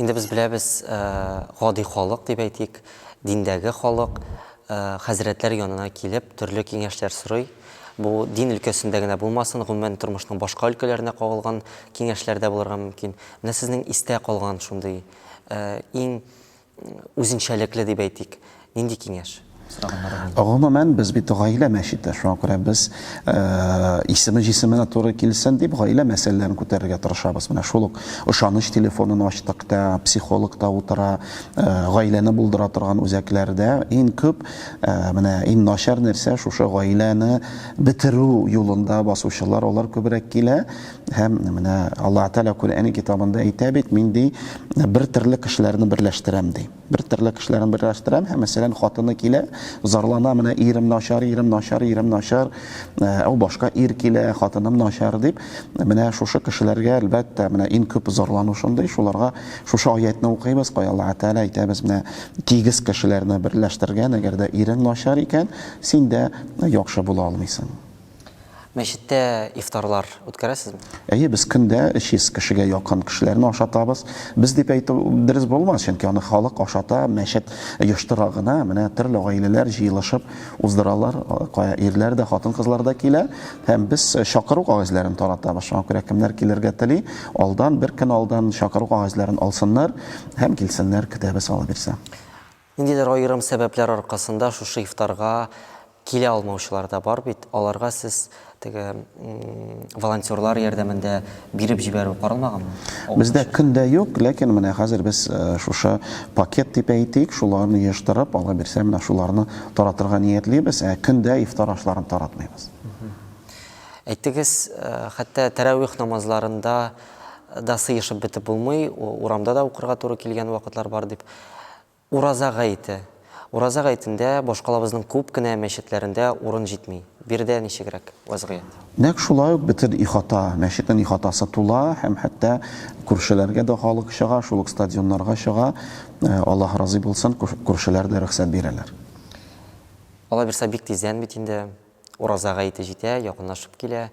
Инде без беләбез, гади халык дип әйтик, диндәге халык хәзрәтләр янына килеп, төрле киңәшләр сорый. Бу дин өлкәсендә генә булмасын, гомумән тормышның башка өлкәләренә кагылган киңәшләр дә булырга мөмкин. Менә сезнең истә калган шундый иң үзенчәлекле дип әйтик, нинди киңәш? Гомумән, без бит гаилә мәчете, шуңа күрә без исеме җисеменә туры килсен дип, гаилә мәсьәләләрен күтәрергә тырышабыз. Менә шул ук ышаныч телефонын ачтык та, психолог та утыра, гаиләне булдыра торган үзәкләрдә иң күп, менә иң начар нәрсә, шушы гаиләне бетерү юлында басучылар, алар күбрәк килә. Һәм менә Аллаһ Тәгалә Коръән китабында әйтә бит, мин ди, бер төрле кешеләрне берләштерәм ди. Бер төрле кешеләрне берләштерәм һәм мәсәлән хатыны килә, зарлана менә ирем начар, ирем начар, ирем начар, ау э, башка ир килә, хатыным начар дип, менә шушы кешеләргә әлбәттә менә иң күп зарлану шундый, шуларга шушы аятны укыйбыз, кая Аллаһ Тәгалә әйтә без менә тигез кешеләрне берләштергән, әгәр дә ирең начар икән, син дә яхшы була алмыйсың. Мәчеттә ифтарлар үткәрәсезме? Әйе, без көндә 300 кешегә якын кешеләрне ашатабыз. Без дип әйтү дөрес булмас, чөнки аны халык ашата, мәчет оештыра гына. Менә төрле гаиләләр җыелышып уздыралар, кая ирләр дә, хатын-кызлар да килә. Һәм без чакыру кәгазьләрен таратабыз. Шуңа күрә кемнәр килергә тели, алдан, бер көн алдан чакыру кәгазьләрен алсыннар һәм килсеннәр, көтәбез, Алла бирсә. Ниндидер аерым сәбәпләр аркасында шушы ифтарга килә алмаучылар да бар бит, аларга сез теге волонтерлар ярдәмендә биреп җибәрү каралмаганмы? Бездә көн дә юк, ләкин менә хәзер без шушы пакет дип әйтик, шуларны җыештырып, Алла бирсә, менә шуларны таратырга ниятлибез, ә көн дә ифтар ашларын таратмыйбыз. Әйтегез, хәтта тәрәвих намазларында да сыешып бетеп булмый, урамда да укырга туры килгән вакытлар бар дип. Ураза гаете. Ураза гаетендә башкалабызның күп кенә мәчетләрендә урын җитми. Биредә ничегрәк вәзгыять? Нәкъ шулай ук бөтен ихата, мәчетнең ихатасы тула һәм хәтта күршеләргә дә халык чыга, шул ук стадионнарга чыга. Аллаһ разый булсын, күршеләр дә рөхсәт бирәләр. Алай булса бик тиздән бит инде Ураза гаете җитә, якынлашып килә.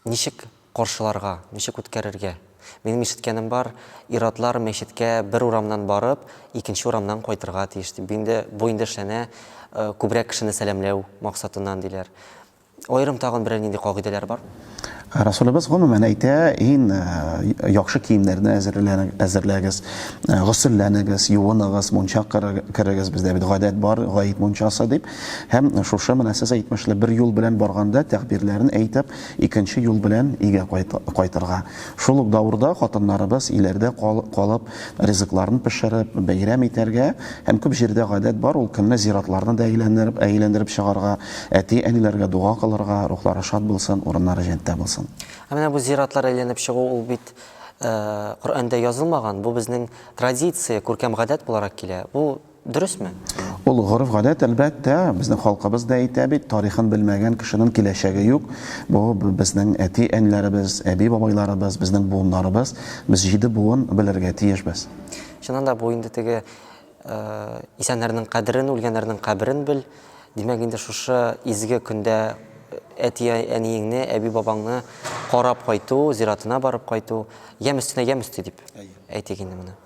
Ничек каршыларга, ничек үткәрергә? Минем ишеткәнем бар, ир-атлар мәчеткә бер урамнан барып, икенче урамнан кайтырга тиеш, дип. Бу инде, бу инде эшләнә күбрәк кешене сәламләү максатыннан, диләр. Аерым тагын берәр нинди кагыйдәләр бармы? Расулыбыз гомумән әйтә, ин яхшы киемнәрне әзерләгез, госөлләнегез, юыныгыз, мунча керегез, бездә бит гадәт бар, гает мунчасы дип. Һәм шушы менә сез әйтмешле бер юл белән барганда тәгъбирләрен әйтеп, икенче юл белән өйгә кайтырга. Шул ук давырда хатыннарыбыз иләрдә калып, ризыкларын пешереп, бәйрәм итәргә һәм күп җирдә гадәт бар ул көнне зиратларны да әйләндереп чыгарга, әти-әниләргә дога кылырга, рухлары шат булсын, урыннары җәнттә булсын. Ә менә бу зиратлар әйләнеп чыгу ул бит Коръәндә язылмаган, бу безнең традиция, күркәм гадәт буларак килә. Бу Дөресме? Ул гореф-гадәт, әлбәттә, безнең халкыбыз да әйтә бит, тарихын белмәгән кешенең киләчәге юк. Бу безнең әти-әниләребез, әби-бабайларыбыз, безнең буыннарыбыз. Без җиде буын белергә тиешбез. Чыннан да, бу инде теге исәннәрнең кадерен, үлгәннәрнең каберен бел. Димәк, инде шушы изге көндә әти-әниеңне, әби-бабаңны карап кайту, зиратына барып кайту, ямь өстенә ямь өсти дип әйтик инде моны.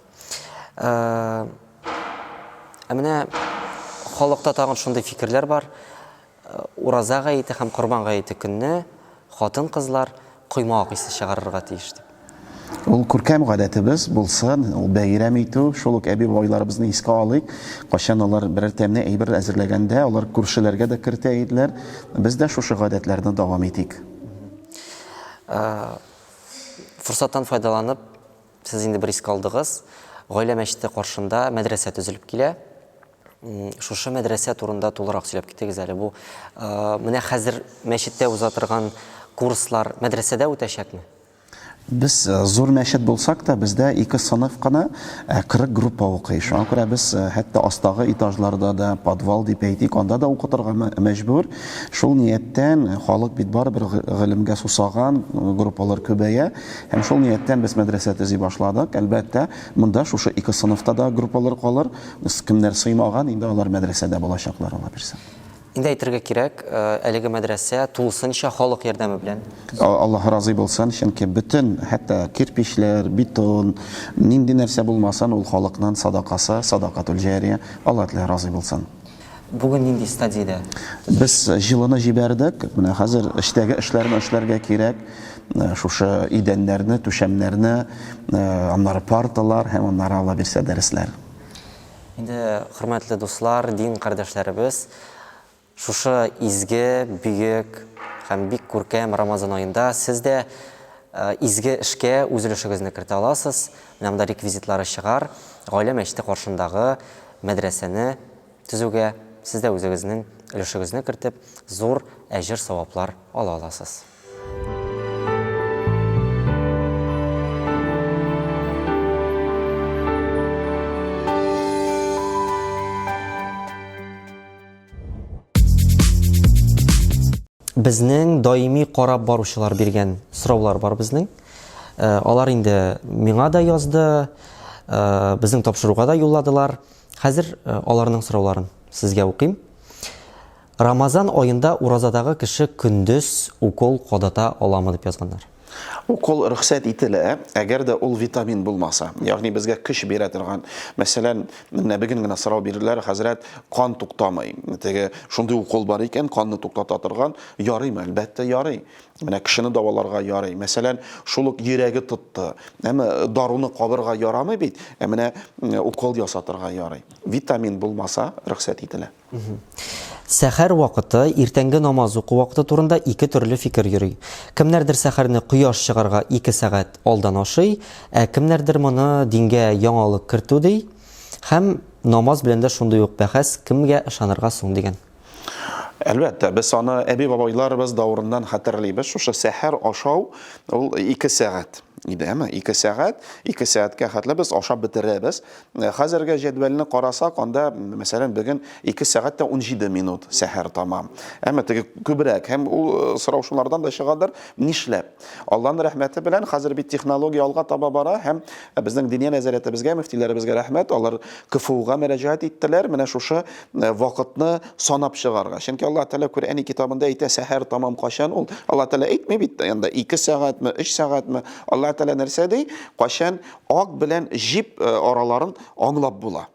Ә менә халыкта тагын шундый фикерләр бар. Ураза гаете һәм Корбан гаете көнне хатын-кызлар коймак исе чыгарырга тиеш дип. Ул күркәм гадәтебез булсын, ул бәйрәм итү, шул ук әби-бабайларыбызны искә алыйк. Кайчан алар берәр тәмле әйбер әзерләгәндә, алар күршеләргә дә кертә иделәр. Без дә шушы гадәтләрне дәвам итик. Форсаттан файдаланып, Сез инде бер искә алдыгыз. Гаилә мәчете каршында мәдрәсә төзелеп килә. Шушы мәдрәсә турында тулырак сөйләп китегез әле. Бу менә хәзер мәчеттә уза торган курслар мәдрәсәдә үтәчәкме? Без зур мәчет булсак та, бездә ике сыйныф кына 40 группа укый. Шуңа күрә без хәтта астагы этажларда да, подвал дип әйтик, анда да укытырга мәҗбүр. Шул нияттән, халык бит барыбер гыйлемгә сусаган, группалар күбәя. Һәм шул нияттән без мәдрәсә төзи башладык. Әлбәттә, монда шушы ике сыйныфта да группалар калыр. Кемнәр сыймаган, инде алар мәдрәсәдә булачаклар, Аллабирса. Инде әйтергә кирәк, әлеге мәдрәсә тулысынча халык ярдәме белән. Аллаһ разый булсын, чөнки бөтен, хәтта кирпечләр, бетон, нинди нәрсә булмасын, ул халыкның садакасы, садакатул-җария. Аллаһ Тәгалә разый булсын. Бүген нинди стадиядә? Без җылыны җибәрдек. Менә хәзер эчтәге эшләрне эшләргә кирәк. Э, шушы идәннәрне, түшәмнәрне, э, аннары парталар һәм аннары ала бирсә дәресләр. Инде хөрмәтле дуслар, дин кардәшләребез, шушы изге, бөек һәм бик күркәм Рамазан аенда сез дә э, изге эшкә үз өлешегезне кертә аласыз. Менә монда реквизитлары чыгар. Гаилә мәчете каршындагы Мәдрәсәне төзүгә сез дә үзегезнең өлешегезне кертеп, зур әҗер-саваплар ала аласыз. Безнең даими карап баручылар биргән сораулар бар безнең. Э, алар инде миңа да язды, э, безнең тапшыруга да юлладылар. Хәзер э, аларның сорауларын сезгә укыйм. Рамазан аенда уразадагы кеше көндез укол кадата аламы дип язганнар. Укол рөхсәт ителә, әгәр дә ул витамин булмаса. Ягъни безгә көч бирә торган. Мәсәлән, менә бүген генә сорау бирделәр, хәзрәт, кан туктамый. Теге шундый укол бар икән, канны туктата торган. Ярыймы? Әлбәттә, ярый. Менә кешене дәваларга ярый. Мәсәлән, шул ук йөрәге тотты. Әмма даруны кабырга ярамый бит, ә менә укол ясатырга ярый. Витамин булмаса, рөхсәт ителә. Сәхәр вакыты, иртәнге намаз уку вакыты турында ике төрле фикер йөри. Кемнәрдер сәхәрне кояш чыгарга ике сәгать алдан ашый, ә кемнәрдер моны дингә яңалык кертү ди. Һәм намаз белән дә шундый ук бәхәс, кемгә ышанырга соң дигән. Әлбәттә, без аны әби-бабайларыбыз давырыннан хәтерлибез, шушы сәхәр ашау ул ике сәгать иде, әмма ике сәгать, ике сәгатькә хәтле без ашап бетерәбез, Хәзерге җәдвәлне карасак, анда, мәсәлән, бүген 2 сәгать тә 17 минут сәхәр тама. Әмма теге күбрәк һәм ул э, сорау шулардан да чыгадыр, нишләп? Алланың рәхмәте белән хәзер бит технология алга таба бара һәм э, безнең диния нәзарәтебезгә, мөфтиләребезгә рәхмәт, алар КФУга мөрәҗәгать иттеләр, менә шушы э, вакытны санап чыгарга. Чөнки Аллаһ Тәгалә Коръәни китабында әйтә, сәхәр тамам качан ул? Аллаһ Тәгалә әйтми бит, анда 2 сәгатьме, 3 сәгатьме? Аллаһ Тәгалә нәрсә ди? Качан Ак белән җип э, араларын аңлап була.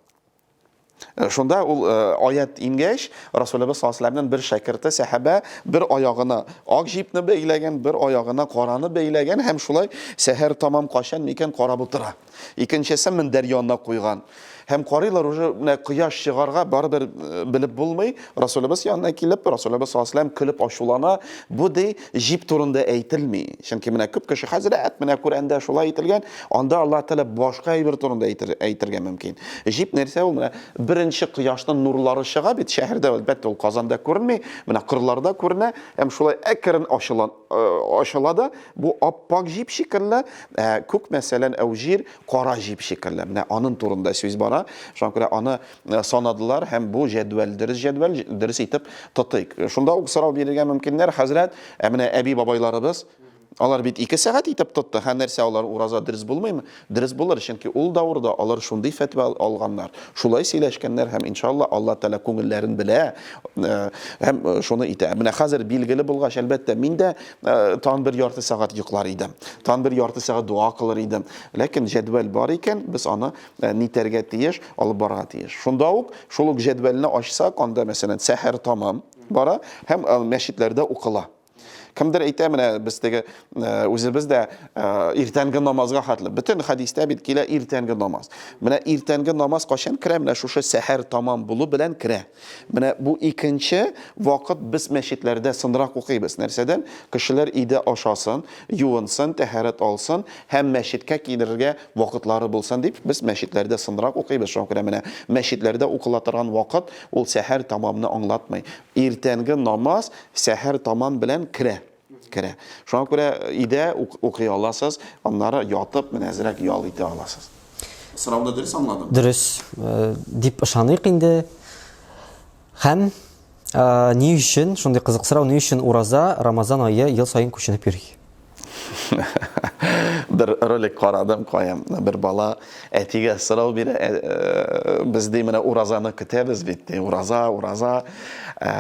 Э, шунда ул э, аят ингәч, Расулебез саллаллаху бер шәкерте сәхәбә бер аягына ак җипне бәйләгән, бер аягына караны бәйләгән һәм шулай сәһәр тамам качан микән карап утыра. Икенчесе мендәр янына куйган. Һәм карыйлар уже менә кояш чыгарга барыбер э, белеп булмый. Расулыбыз янына килеп, Расулыбыз саллаллаху көлеп ачулана. Бу ди җип турында әйтелми. Чөнки менә күп кеше хәзрәт менә Коръәндә шулай әйтелгән, анда Аллаһ Тәгалә башка әйбер турында әйтер, әйтергә мөмкин. Җип нәрсә ул? Менә беренче кояшның нурлары чыга бит шәһәрдә, әлбәттә ул Казанда күренми, менә кырларда күренә. Һәм шулай әкрен ачыла, э, ачыла да бу аппак җип шикелле, ә күк мәсәлән әүҗир, кара җип шикелле. Менә анын турында сүз бара. Шуңа күрә аны санадылар һәм бу җәдвәл дөрес җәдвәл, дөрес итеп тотыйк. Шунда ук сорау бирергә мөмкиннәр, хәзрәт, ә менә әби-бабайларыбыз, алар бит ике сәгать итеп тотты, һәм нәрсә алар ураза дөрес булмыймы? Дөрес булыр, чөнки ул давырда алар шундый фәтва алганнар, шулай сөйләшкәннәр һәм иншалла Алла Тәгалә күңелләрен белә һәм шуны итә. Менә хәзер билгеле булгач, әлбәттә, мин дә Э, тан бер ярты сәгать йоклар иде тан бер ярты сәгать дуа кылыр иде ләкин җәдвәл бар икән без аны э, нитәргә тиеш алып барырга тиеш шунда ук шул ук җәдвәлне ачсак анда мәсәлән сәхәр тамам бара һәм э, мәчетләрдә укыла кемдер әйтә менә без теге үзебез дә иртәнге намазга хәтле бөтен хәдистә бит килә иртәнге намаз менә иртәнге намаз кайчан керә менә шушы сәхәр тамам булу белән керә Менә бу икенче вакыт без мәчетләрдә сынрак укыйбыз. Нәрсәдән? Кешеләр өйдә ашасын, юынсын, тәһарәт алсын һәм мәчеткә килергә вакытлары булсын дип, без мәчетләрдә сынрак укыйбыз. Шуңа күрә менә мәчетләрдә укыла торган вакыт ул сәхәр тамамны аңлатмый. Иртәнге намаз сәхәр тамам белән керә. Керә. Шуңа күрә өйдә үк укый аласыз, аннары ятып, менә әзрәк ял итә аласыз. Сорауны дөрес аңладыммы? Дөрес дип ышаныйк инде. Һәм ни өчен, шундый кызык сорау, ни өчен ураза Рамазан ае ел саен күченеп йөри? Бер ролик карадым, кая бер бала әтигә сорау бирә, без ди менә уразаны көтәбез бит, ди, ураза, ураза,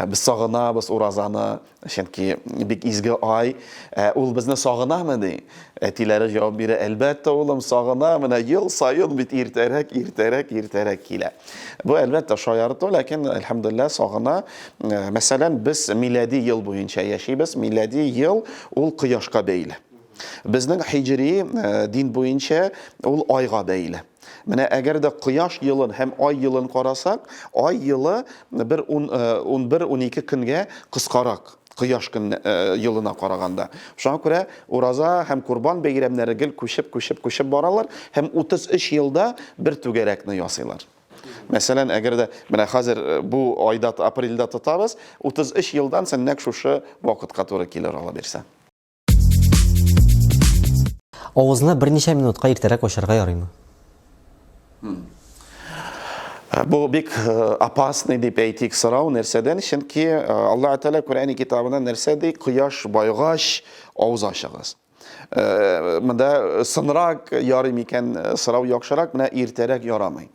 без сагынабыз уразаны. Чөнки бик изге ай, ә ул безне сагынамы ди? Әтиләре җавап бирә, әлбәттә, улым, сагына, менә ел саен бит иртәрәк, иртәрәк, иртәрәк килә. Бу әлбәттә шаярту, ләкин әлхәмдулилла сагына. Э, мәсәлән, без милади ел буенча яшибез. Милади ел ул кояшка бәйле. Безнең хиҗри э, дин буенча ул айга бәйле. Менә әгәр дә кояш елын һәм ай елын карасак, ай елы бер 11-12 э, көнгә кыскарак кояш көн елына э, караганда. Шуңа күрә ураза һәм курбан бәйрәмнәре гел күчеп, күчеп, күчеп баралар һәм 33 елда бер түгәрәкне ясыйлар. Мәсәлән, әгәр дә менә хәзер э, бу айда апрельдә тотабыз, 33 елдан соң нәкъ шушы вакытка туры килер ала бирсә. Авызны берничә минутка иртәрәк ачарга ярыймы? Э, бу бик э, опасный дип әйтик сорау нәрсәдән чөнки э, алла тәала корани китабына нәрсә ди кояш байгач авыз ачыгыз монда сынрак ярый микән сорау яхшырак менә иртәрәк ярамый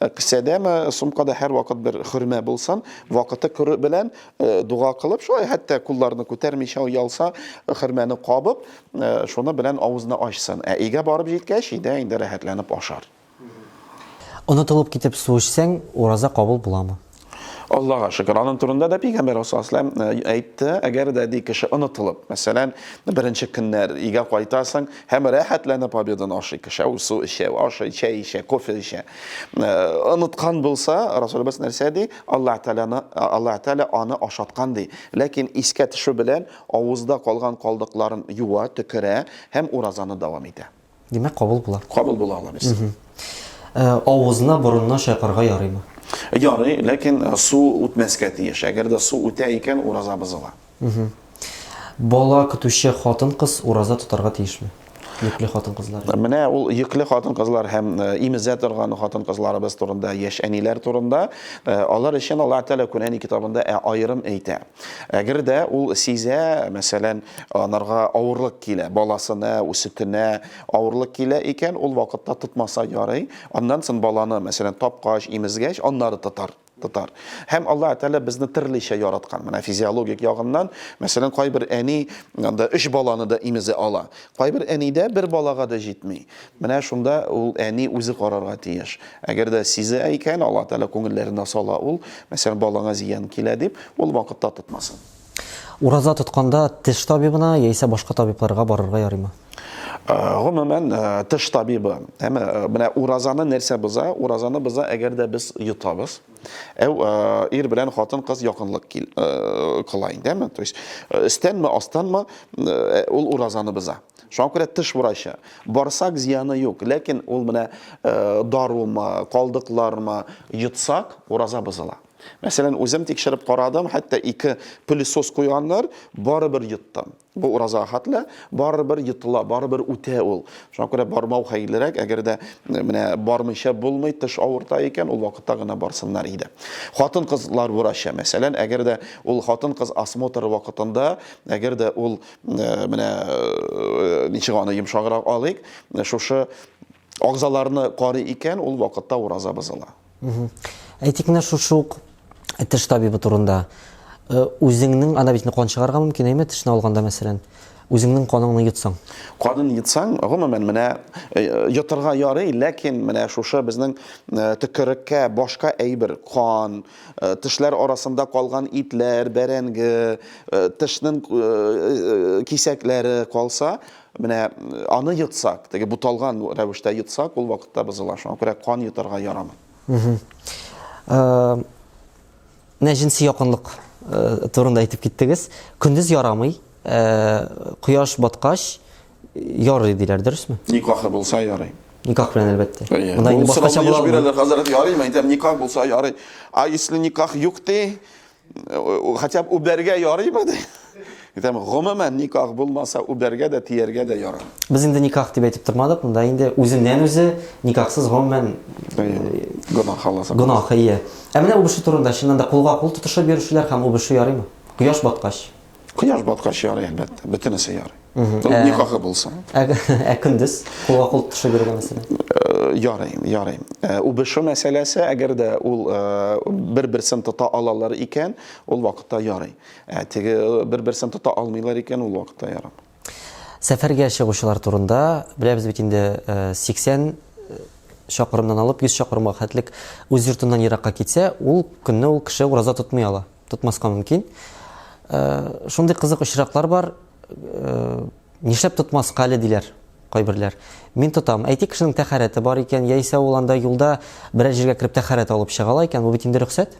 Ә кесәдәме, сумкада һәрвакыт бер хөрмә булсын, вакыты көрү белән э, дуга кылып, шулай хәтта кулларны күтәрмичә уялса, хөрмәне кабып, э, шуны белән авызны ачсын. Ә өйгә барып җиткәч, өйдә инде рәхәтләнеп ашар. Онытылып китеп су эчсәң, ураза кабул буламы? Аллаһыга шөкер, аның турында да пәйгамбәр Расуллаһ әйтте, әгәр дә ди кеше онытылып, мәсәлән, беренче көннәр өйгә кайтасың һәм рәхәтләнеп победан ашый кеше, ул су эчә, ашый, чәй эчә, кофе эчә. Оныткан булса, Расулыбыз нәрсә ди? Аллаһ Тәгаләне, Аллаһ Тәгалә аны ашаткан ди. Ләкин искә төшү белән авызда калган калдыкларын юа, төкерә һәм уразаны дәвам итә. Димәк, кабул була. Кабул була ала без. Э, авызына, борынына чайкарга ярыймы? Ярый, ләкин э, су үтмәскә тиеш. Әгәр дә су үтә икән, ураза бозыла. Бала көтүче хатын-кыз ураза тотарга тиешме? Йөкле хатын-кызлар. Менә ул йөкле хатын-кызлар һәм э, имезә торган хатын-кызларыбыз турында, яшь әниләр турында, алар өчен Аллаһ Тәгалә Куръәни китабында аерым әйтә. Әгәр дә ул сизә, мәсәлән, анарга авырлык килә, баласына, үсетенә авырлык килә икән, ул вакытта тотмаса ярый. Аннан сон баланы, мәсәлән, тапкач, имезгәч, аннары тотар тотар. Һәм Алла Тәгалә безне төрлечә яраткан. Менә физиологик ягыннан, мәсәлән, кайбер әни анда өч баланы да имезе ала. Кайбер әнидә бер балага да җитми. Менә шунда ул әни үзе карарга тиеш. Әгәр дә сизә икән, Аллаһ Тәгалә күңелләренә сала ул, мәсәлән, балаңа зыян килә дип, ул вакытта тотмасын. Ураза тотканда теш табибына яисә башка табибларга барырга ярыймы? Гомумән, теш табибы, әмма менә уразаны нәрсә боза? Уразаны боза, әгәр дә без йотабыз, әү ир белән хатын-кыз якынлык кыла инде, әмма, то есть, өстәнме, астанмы, ул уразаны боза. Шуңа күрә тыш врачы. Барсак зияны юк, ләкин ул менә э, дарумы, калдыклармы йотсак, ураза бозыла. Мәсәлән, үзем тикшереп карадым, хәтта ике пылесос куйганнар, барыбер йоттым. Бу ураза хәтле, барыбер йотыла, барыбер үтә ул. Шуңа күрә бармау хәерлерәк, әгәр дә э, менә бармыйча булмый, тыш авырта икән, ул вакытта гына барсыннар иде. Хатын-кызлар врачы, мәсәлән, әгәр дә ул хатын-кыз осмотры вакытында, әгәр дә ул Э, менә э, ничек аны йомшаграк алыйк э, шушы агзаларны карый икән ул вакытта ураза бозыла әйтик менә шушы ук теш табибы турында үзеңнең ана бит кан чыгарырга мөмкин әйме тешне алганда мәсәлән үзеңнең каныңны йотсаң канын йотсаң гомумән менә э, йотырга ярый ләкин менә шушы безнең э, төкереккә башка әйбер кан Тешләр арасында калган итләр, бәрәнге, тешнен кисәкләре калса, менә аны йотсак, теге буталган рәвештә йотсак, ул вакытта бозыла. Шуңа күрә кан йотарга ярамый. Менә җенси якынлык турында әйтеп киттегез. Көндез ярамый, кояш баткач, Ярый диләр, дөресме? Никахы булса ярый. Никах белән әлбәттә. Монда инде башкача була. Бирәләр хәзрәт ярый, мәйтәм никах булса ярый. А если никах юк ти, хотя бы үбәргә ярыймы ди. Әйтәм, гомумән никах булмаса, үбәргә дә, тияргә дә ярый. Без инде никах дип әйтеп тормадык, монда инде үзеннән үзе никахсыз гомумән гына халаса. Гына хәйя. Ә менә үбеше турында чыннан да кулга кул тотышып йөрүчеләр һәм үбеше ярыймы? Кояш баткач. Кояш баткач ярый, әлбәттә, бөтенесе ярый. Ә... Никахы булса. Ә, ә көндез кулга кул төшә биргән мәсьәлә. Э, ярый, ярый. Э, Убыш мәсьәләсе, әгәр дә ул э, бер-берсен тота алалар икән, ул вакытта ярый. Ә теге бер-берсен тота алмыйлар икән, ул вакытта ярый. Сәфәргә чыгучылар турында беләбез бит инде 80 чакырымнан алып 100 чакырымга хәтлек үз йортыннан еракка китсә, ул көнне ул кеше ураза тотмый ала. тотмаска мөмкин. Э, шундый кызык очраклар бар, э, нишләп тотмаска әле диләр кайберләр. Мин тотам. Әйтик, кешенең тәхәрәте бар икән, яисә ул анда юлда берәр җиргә кереп тәхәрәт алып чыга ала икән, бу бит инде рөхсәт.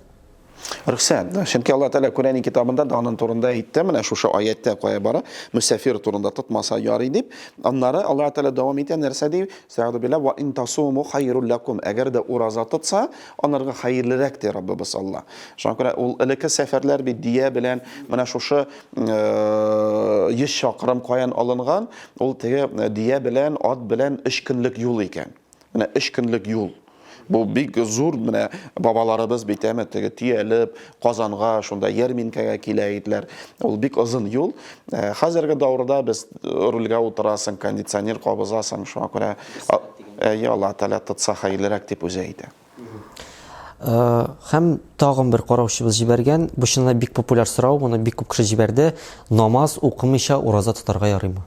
Рөхсәт. Чөнки Алла Тәгалә Коръәни китабында да аның турында әйтте, менә шушы аятта кая бара, мусафир турында тотмаса ярый дип. Аннары Алла Тәгалә дәвам итә нәрсә ди? Сәгъдү билла ва интасуму хайрул лакум. Әгәр дә ураза тотса, Анарга хәерлерәк ди Раббыбыз Алла. Шуңа күрә ул элекке сәфәрләр бит дия белән менә шушы 100 чакрым каян алынган, ул теге дия белән, ат белән 3 көнлек юл икән. Менә 3 көнлек юл. Бу бик зур менә бабаларыбыз бит әме теге төялеп Казанга шунда ярминкәгә килә иделәр. Ул бик озын юл. Э, хәзерге даурда без рульгә утырасың, кондиционер кабызасың, шуңа күрә Әйе, Аллаһ Тәгалә тотса хәерлерәк дип үзе әйтә. Һәм тагын бер караучыбыз җибәргән, бу чынлап бик популяр сорау, моны бик күп кеше җибәрде. Намаз укымыйча ураза тотарга ярыймы?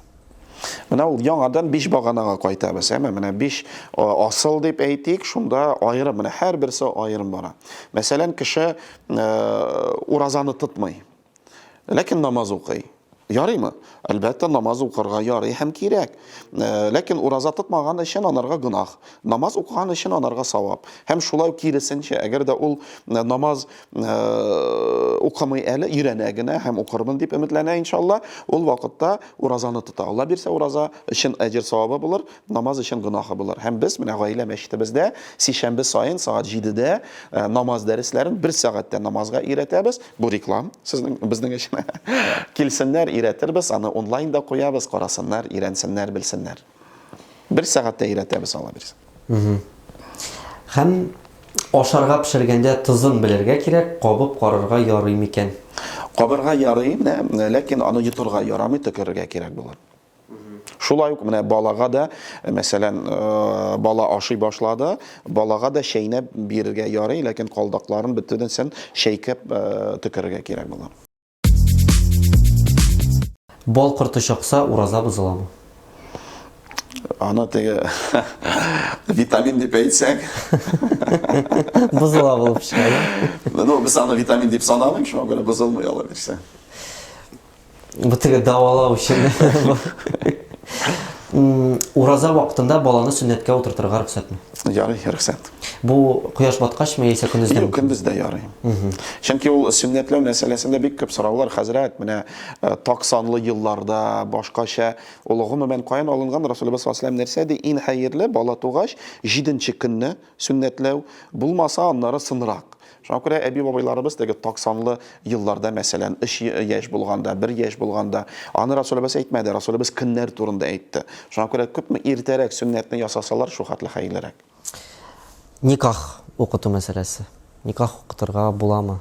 Менә ул яңадан биш баганага кайтабыз. Әмма менә биш асыл дип әйтик, шунда аерым, менә һәрберсе аерым бара. Мәсәлән, кеше уразаны тотмый. Ләкин намаз укый. Ярыймы? Әлбәттә, намаз укырга ярый һәм кирәк. Э, ләкин ураза тотмаган өчен анарга гөнаһ. Намаз укыган өчен анарга савап. Һәм шулай киресенчә, әгәр дә ул э, намаз э, укымый әле, өйрәнә генә һәм укырмын дип өметләнә, иншалла, ул вакытта уразаны тота. Алла бирсә, ураза өчен әҗер савабы булыр, намаз өчен гөнаһы булыр. Һәм без менә гаилә мәчетебездә сишәмбе саен сагат 7-дә э, намаз дәресләрен бер сәгатьтә намазга өйрәтәбез. Бу реклам сезнең безнең өчен. Килсеннәр, өйрәтербез, аны онлайн да куябыз, карасыннар, өйрәнсеннәр, белсеннәр. Бер сәгатьтә өйрәтәбез ала бирсә. Һәм ашарга пешергәндә тозын белергә кирәк, кабып карарга ярый микән? Кабырга ярый, ләкин аны йотырга ярамый, төкерергә кирәк булыр. Шулай ук менә балага да, э, мәсәлән, э, бала ашый башлады, балага да чәйнәп бирергә ярый, ләкин калдакларын бөтенесен чәйкәп э, төкерергә кирәк була. Бал корты чакса, ураза бозыламы? Аны теге витамин дип әйтсәк. Бозыла булып чыга. Ну, без аны витамин дип санамыйм, шуңа күрә бозылмый ала бирсә. Бытыгы давалау өчен. Ураза вакытында баланы сөннәткә утыртырга рөхсәтме? Ярый, рөхсәт. Бу кояш баткач ме яисә көндездә? Юк, көндез дә ярый. Чөнки ул сөннәтләү мәсьәләсендә бик күп сораулар, хәзрәт, менә э, так санлы елларда, башкача, ул гомумән каян алынган Расулыбыз саллаллаһу нәрсә ди, иң хәерле бала тугач, 7 көнне Сөннәтләү, булмаса, аннары сынрак. Шуңа күрә әби-бабайларыбыз теге токсанлы елларда, мәсәлән, өч яшь булганда, бер яшь булганда, аны Расулебез әйтмәде, Расулебез көннәр турында әйтте. Шуңа күрә күпме иртәрәк сөннәтне ясасалар, шул хәтле хәерлерәк. Никах укыту мәсьәләсе. Никах укытырга буламы?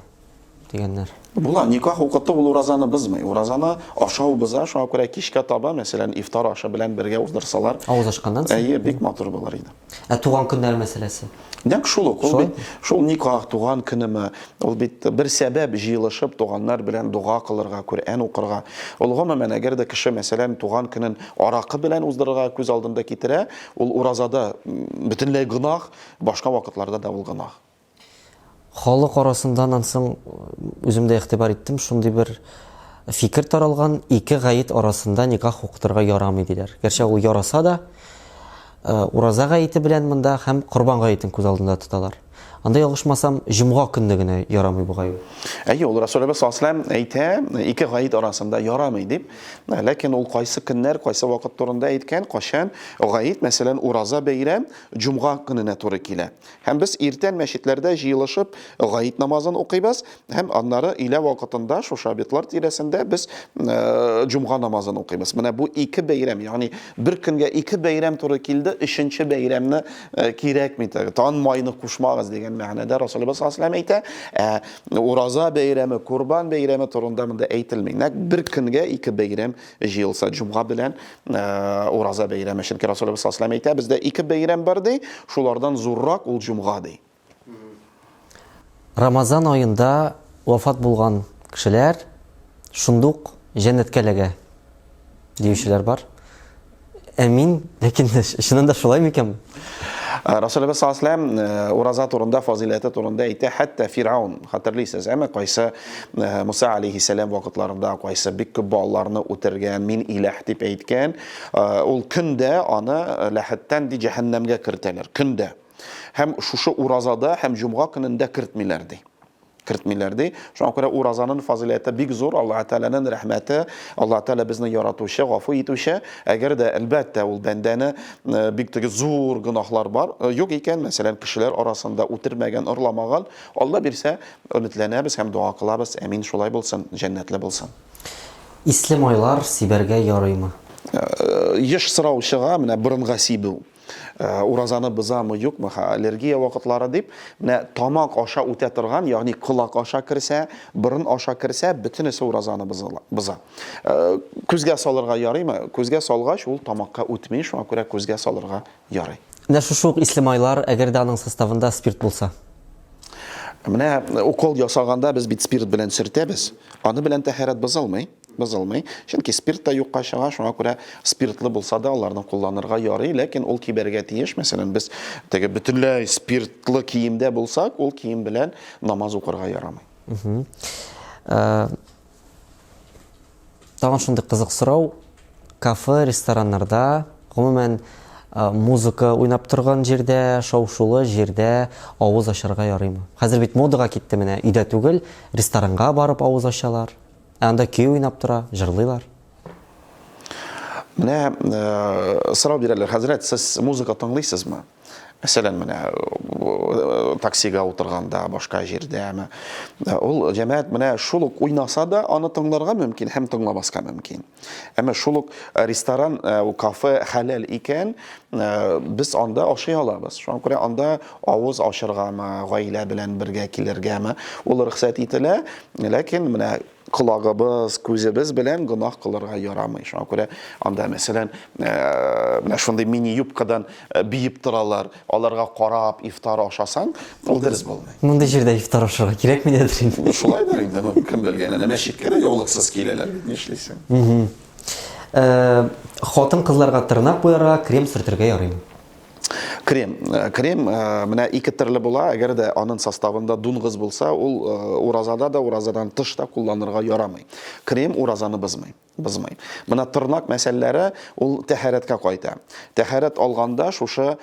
дигәннәр. Була, никах укыту ул уразаны бозмый. Уразаны ашау боза, шуңа күрә кичкә таба, мәсәлән, ифтар ашы белән бергә уздырсалар. Авыз ачканнан соң. Әйе, бик матур булыр иде. Ә туган көннәр мәсьәләсе? Нәкъ шул ук. Ул бит шул никах, туган көнеме, ул бит бер сәбәп җыелышып туганнар белән дога кылырга, Коръән укырга. Ул гомумән, әгәр дә кеше, мәсәлән, туган көнен аракы белән уздырырга күз алдында китерә, ул уразада бөтенләй гөнаһ, башка вакытларда да ул гөнаһ. Халык арасында аннан соң үзем дә игътибар иттем, шундый бер фикер таралган, ике гаит арасында никах укытырга ярамый диләр. Гәрчә ул яраса да, э, ураза гаите белән монда һәм корбан гаитен күз алдында тоталар. Анда ялгышмасам, җомга көнне генә ярамый бугай. Әйе, ул Расулебез саллаллаһу алейһи әйтә, ике гает арасында ярамый дип. Ләкин ул кайсы көннәр, кайсы вакыт турында әйткән, кайчан гает, мәсәлән, ураза бәйрәм җомга көненә туры килә. Һәм без иртән мәчетләрдә җыелышып гает намазын укыйбыз, һәм аннары өйлә вакытында шушы обетлар тирәсендә без җомга намазын укыйбыз. Менә бу ике бәйрәм, ягъни бер көнгә ике бәйрәм туры килде, өченче бәйрәмне кирәкми, тан майны кушмагыз дигән мәгънәдә Расулыбыз саллаллаһу алейһи әйтә. Ә ураза бәйрәме, Курбан бәйрәме турында монда әйтелми. Нәкъ бер көнгә ике бәйрәм җыелса җомга белән э, ураза бәйрәме чөнки расулыбыз саллаллаху алейһи әйтә бездә ике бәйрәм бар ди шулардан зуррак ул җомга ди рамазан аенда вафат булган кешеләр шундук җәннәткә эләгә диючеләр бар Ә мин, ләкин чыннан да шулай микән? Расулыбыз саллаллаху алейһи ураза турында, фазиләте турында әйтә, хәтта Фирәун, хәтерлисез, әмма кайсы Муса алейһиссәлам вакытларында кайсы бик күп балаларны үтергән, мин иләһ дип әйткән, ул көндә аны ләхәттән ди җәһәннәмгә кертәләр, көндә. Һәм шушы уразада һәм җомга көнендә кертмиләр ди. кертмиләр, ди. Шуңа күрә уразаның фазыйләте бик зур, Аллаһы Тәгаләнең рәхмәте, Аллаһы Тәгалә безне яратучы, гафу итүче. Әгәр дә, әлбәттә, ул бәндәне бик теге зур гөнаһлар бар, юк икән, мәсәлән, кешеләр арасында үтермәгән, орламаган, Алла бирсә, өметләнәбез һәм дога кылабыз, әмин, шулай булсын, җәннәтле булсын. Исле майлар сибәргә ярыймы? Еш сораучыга менә борынга сибү. Э, уразаны бозамы юкмы аллергия вакытлары дип менә тамак аша үтә торган ягъни колак аша керсә борын аша керсә бөтенесе уразаны боза э, күзгә салырга ярыймы күзгә салгач ул тамакка үтми шуңа күрә күзгә салырга ярый менә шушы ук исле майлар әгәр дә аның составында спирт булса менә укол ясаганда без бит спирт белән сөртәбез аны белән тәһарәт бозылмый Бозылмый, чөнки спирт та юкка чыга, шуңа күрә спиртлы булса да аларны кулланырга ярый, ләкин ул кибәргә тиеш, мәсәлән, без теге бөтенләй спиртлы киемдә булсак, ул кием белән намаз укырга ярамый. Тагын шундый кызык сорау, кафе, рестораннарда, гомумән, музыка уйнап торган җирдә, шау-шулы җирдә авыз ачарга ярыймы? Хәзер бит модага китте менә, өйдә түгел, ресторанга барып авыз ачалар. Ә анда көй уйнап тора, җырлыйлар. Менә э, сорау бирәләр, хәзрәт, сез музыка тыңлыйсызмы? Мәсәлән, менә э, таксига утырганда, башка җирдә, э, ул җәмәгать менә шул ук уйнаса да, аны тыңларга мөмкин һәм тыңламаска мөмкин. Әмма шул ук э, ресторан, кафе хәләл икән, без анда ашый алабыз. Шуңа күрә анда авыз ачыргамы, гаилә белән бергә килергәме, ул рөхсәт ителә, ләкин менә колагыбыз, күзебез белән гөнаһ кылырга ярамый. Шуңа күрә анда, мәсәлән, э, менә шундый мини-юбкадан э, биеп торалар, аларга карап ифтар ашасаң, ул дөрес булмый. Мондый җирдә ифтар ашарга кирәкми дидер инде. Шулай да инде, ну, кем белгән, әнә мәчеткә дә яулыксыз киләләр бит, нишлисең. Э, Хатын-кызларга тырнак буярга, крем сөртергә ярыймы? Крем. Э, крем э, менә ике төрле була, әгәр дә анын составында дунгыз булса, ул э, уразада да, уразадан тыш та кулланырга ярамый. Крем уразаны бызмый. Бызмый. Менә тырнак мәсьәләләре ул тәһарәткә кайта. Тәһарәт алганда шушы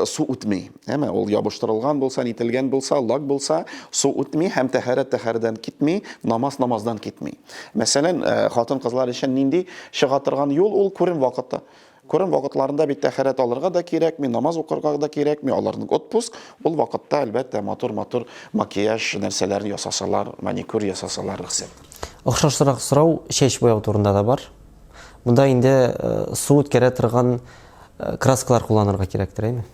су үтми. Әмма ул ябыштырылган булса, нителгән булса, лак булса, су үтми һәм тәһарәт тәһәрдән китми, намаз намаздан китми. Мәсәлән, хатын-кызлар өчен нинди чыга торган юл ул күрен вакыты. Корым вакытларында бит тәхәрәт алырга да кирәкми, намаз укырга да кирәкми, аларның отпуск, ул вакытта, әлбәттә, матур-матур макияж нәрсәләрен ясасалар, маникюр ясасалар, рөхсәт. Охшашрак сорау чәч буяу турында да бар. Монда инде э, су үткәрә торган э, краскалар кулланырга кирәктер, әйме?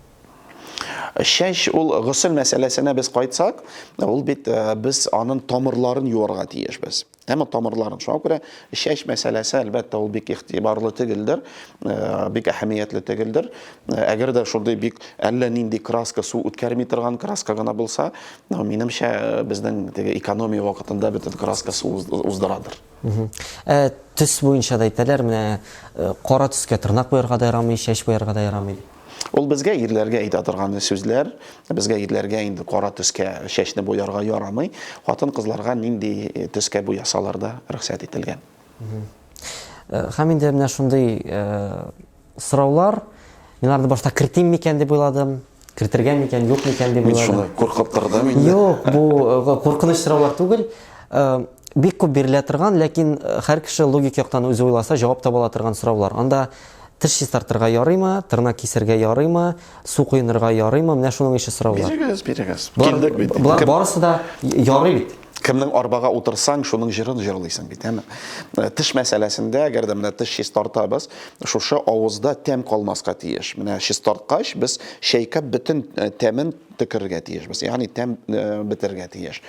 Чәч ул госел мәсьәләсенә без кайтсак, ул бит э, без аның тамырларын юарга тиешбез. Әмма тамырларын. Шуңа күрә чәч мәсьәләсе, әлбәттә, ул бик игътибарлы түгелдер, э, бик әһәмиятле түгелдер. Э, әгәр дә шундый бик әллә нинди краска су үткәрми торган краска гына булса, ну, минемчә, э, безнең теге экономия вакытында бөтен краска су уздырадыр. Ә төс буенча да әйтәләр, менә кара төскә тырнак буярга да ярамый, чәч буярга да ярамый. Ул безгә ирләргә әйтә торган сүзләр, безгә ирләргә инде кара төскә чәчне буярга ярамый. Хатын кызларга нинди э, төскә буясалар да рөхсәт ителгән. Э, һәм инде менә шундый э, сораулар мин аларны башта кертим микән дип уйладым кертергә микән юк микән дип уйладым мин шуны куркып тордым инде юк бу куркыныч сораулар түгел бик күп бирелә торган ләкин һәр кеше логик яктан үзе уйласа җавап таба ала торган сораулар анда Теш чистартырга ярыймы, тырнак кисергә ярыймы, су коенырга ярыймы? Менә шуның ише сораулар. Бирегез, бирегез. Килдек бит. Болар барысы да ярый бит. Кемнең арбага утырсаң, шуның җырын җырлыйсың бит, әме. Э, теш мәсьәләсендә, әгәр дә менә теш чистартабыз, шушы авызда тәм калмаска тиеш. Менә чистарткач, без чәйкәп бөтен э, тәмен төкерергә тиешбез, ягъни тәм э, бетерергә тиеш.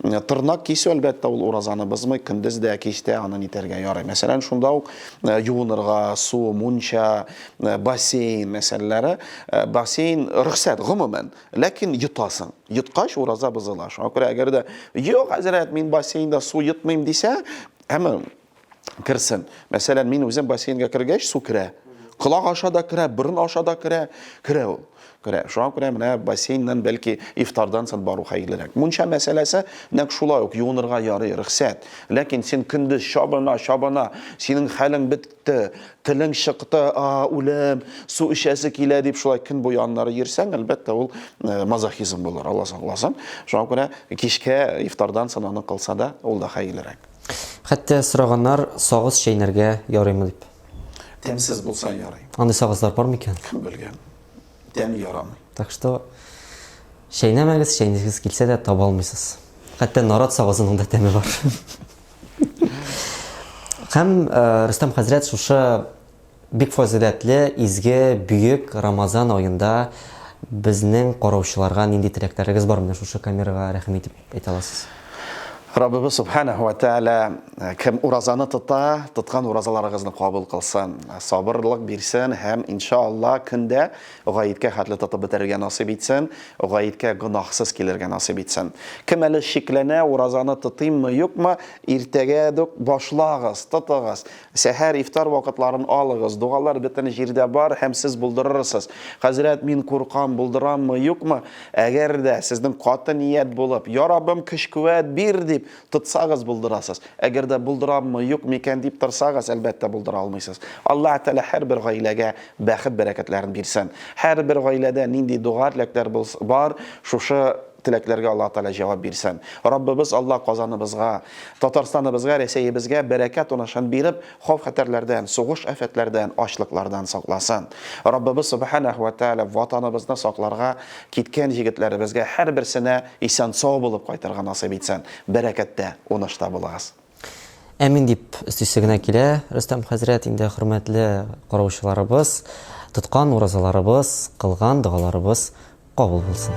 Э, тырнак кисү, әлбәттә, ул уразаны бозмый, көндез дә, кич тә аны нитәргә ярый. Мәсәлән, шунда ук э, юынырга, су, мунча, бассейн мәсьәләләре. Бассейн рөхсәт гомумән, ләкин йотасың. Йоткач ураза бозыла. Шуңа күрә әгәр дә юк, хәзрәт, мин бассейнда су йотмыйм дисә, әмма керсен. Мәсәлән, мин үзем бассейнга кергәч, су керә. Колак аша да керә, борын аша да керә, керә ул. Керә. Шуңа күрә менә бассейннан бәлки ифтардан соң бару хәерлерәк. Мунча мәсьәләсе нәкъ шулай ук юынырга ярый, рөхсәт. Ләкин син көндез чабына, чабына, синең хәлең бетте, телең чыкты, а, үлем, су эчәсе килә дип шулай көн буе аннары йөрсәң, әлбәттә, ул э, мазохизм булыр, Аллаһ сакласын. Шуңа күрә кичкә ифтардан соң аны кылса да, ул да хәерлерәк. Хәтта сораганнар, сагыз чәйнәргә ярыймы дип. Тәмсез булса ярый. Андый сагызлар бар микән? Кем белгән. Тәме ярамый. Так что чәйнәмәгез, чәйнисез килсә дә таба алмыйсыз. Хәтта нарат сагызының да тәме бар. Һәм Рөстәм хәзрәт шушы Бик фазыйләтле, изге, бөек Рамазан аенда безнең караучыларга нинди теләкләрегез бар менә шушы камерага рәхим итеп әйтә аласыз? Раббыбыз Субханәһү вә Тәгалә кем уразаны тота, тоткан уразаларыгызны кабул кылсын, сабырлык бирсен һәм, инша Алла, көн дә гаеткә хәтле тотып бетерергә насыйп итсен, гаеткә гөнаһсыз килергә насыйп итсен. Кем әле шикләнә, уразаны тотыйммы, юкмы, иртәгә дүк башлагыз, тотыгыз. Сәхәр, ифтар вакытларын алыгыз. Догалар бөтен җирдә бар һәм сез булдырырсыз. Хәзрәт, мин куркам, булдыраммы, юкмы? Әгәр дә сезнең каты ният булып, Я Раббым, көч-куәт бир! дип тотсагыз, булдырасыз. Әгәр дә булдыраммы, юк микән дип торсагыз, әлбәттә, булдыра алмыйсыз. Аллаһ Тәгалә һәрбер гаиләгә бәхет-бәрәкәтләрен бирсен. Һәрбер гаиләдә нинди дога-теләкләр булс, бар, шушы Теләкләргә Аллаһ Тәгалә җавап бирсен. Раббыбыз Аллаһ Казаныбызга, Татарстаныбызга, Рәсәебезгә бәрәкәт уңышын биреп, хауф-хәтәрләрдән, сугыш-афәтләрдән, ачлыклардан сакласын. Раббыбыз Сөбхәнәһү вә Тәгалә Ватаныбызны сакларга киткән җегетләребезгә һәрберсенә исән-сау булып кайтырга насыйп итсен. Бәрәкәттә, унышта булыгыз. Әмин дип өстисе генә килә, Рөстәм хәзрәт, инде хөрмәтле караучыларыбыз, тоткан уразаларыбыз, кылган догаларыбыз кабул булсын.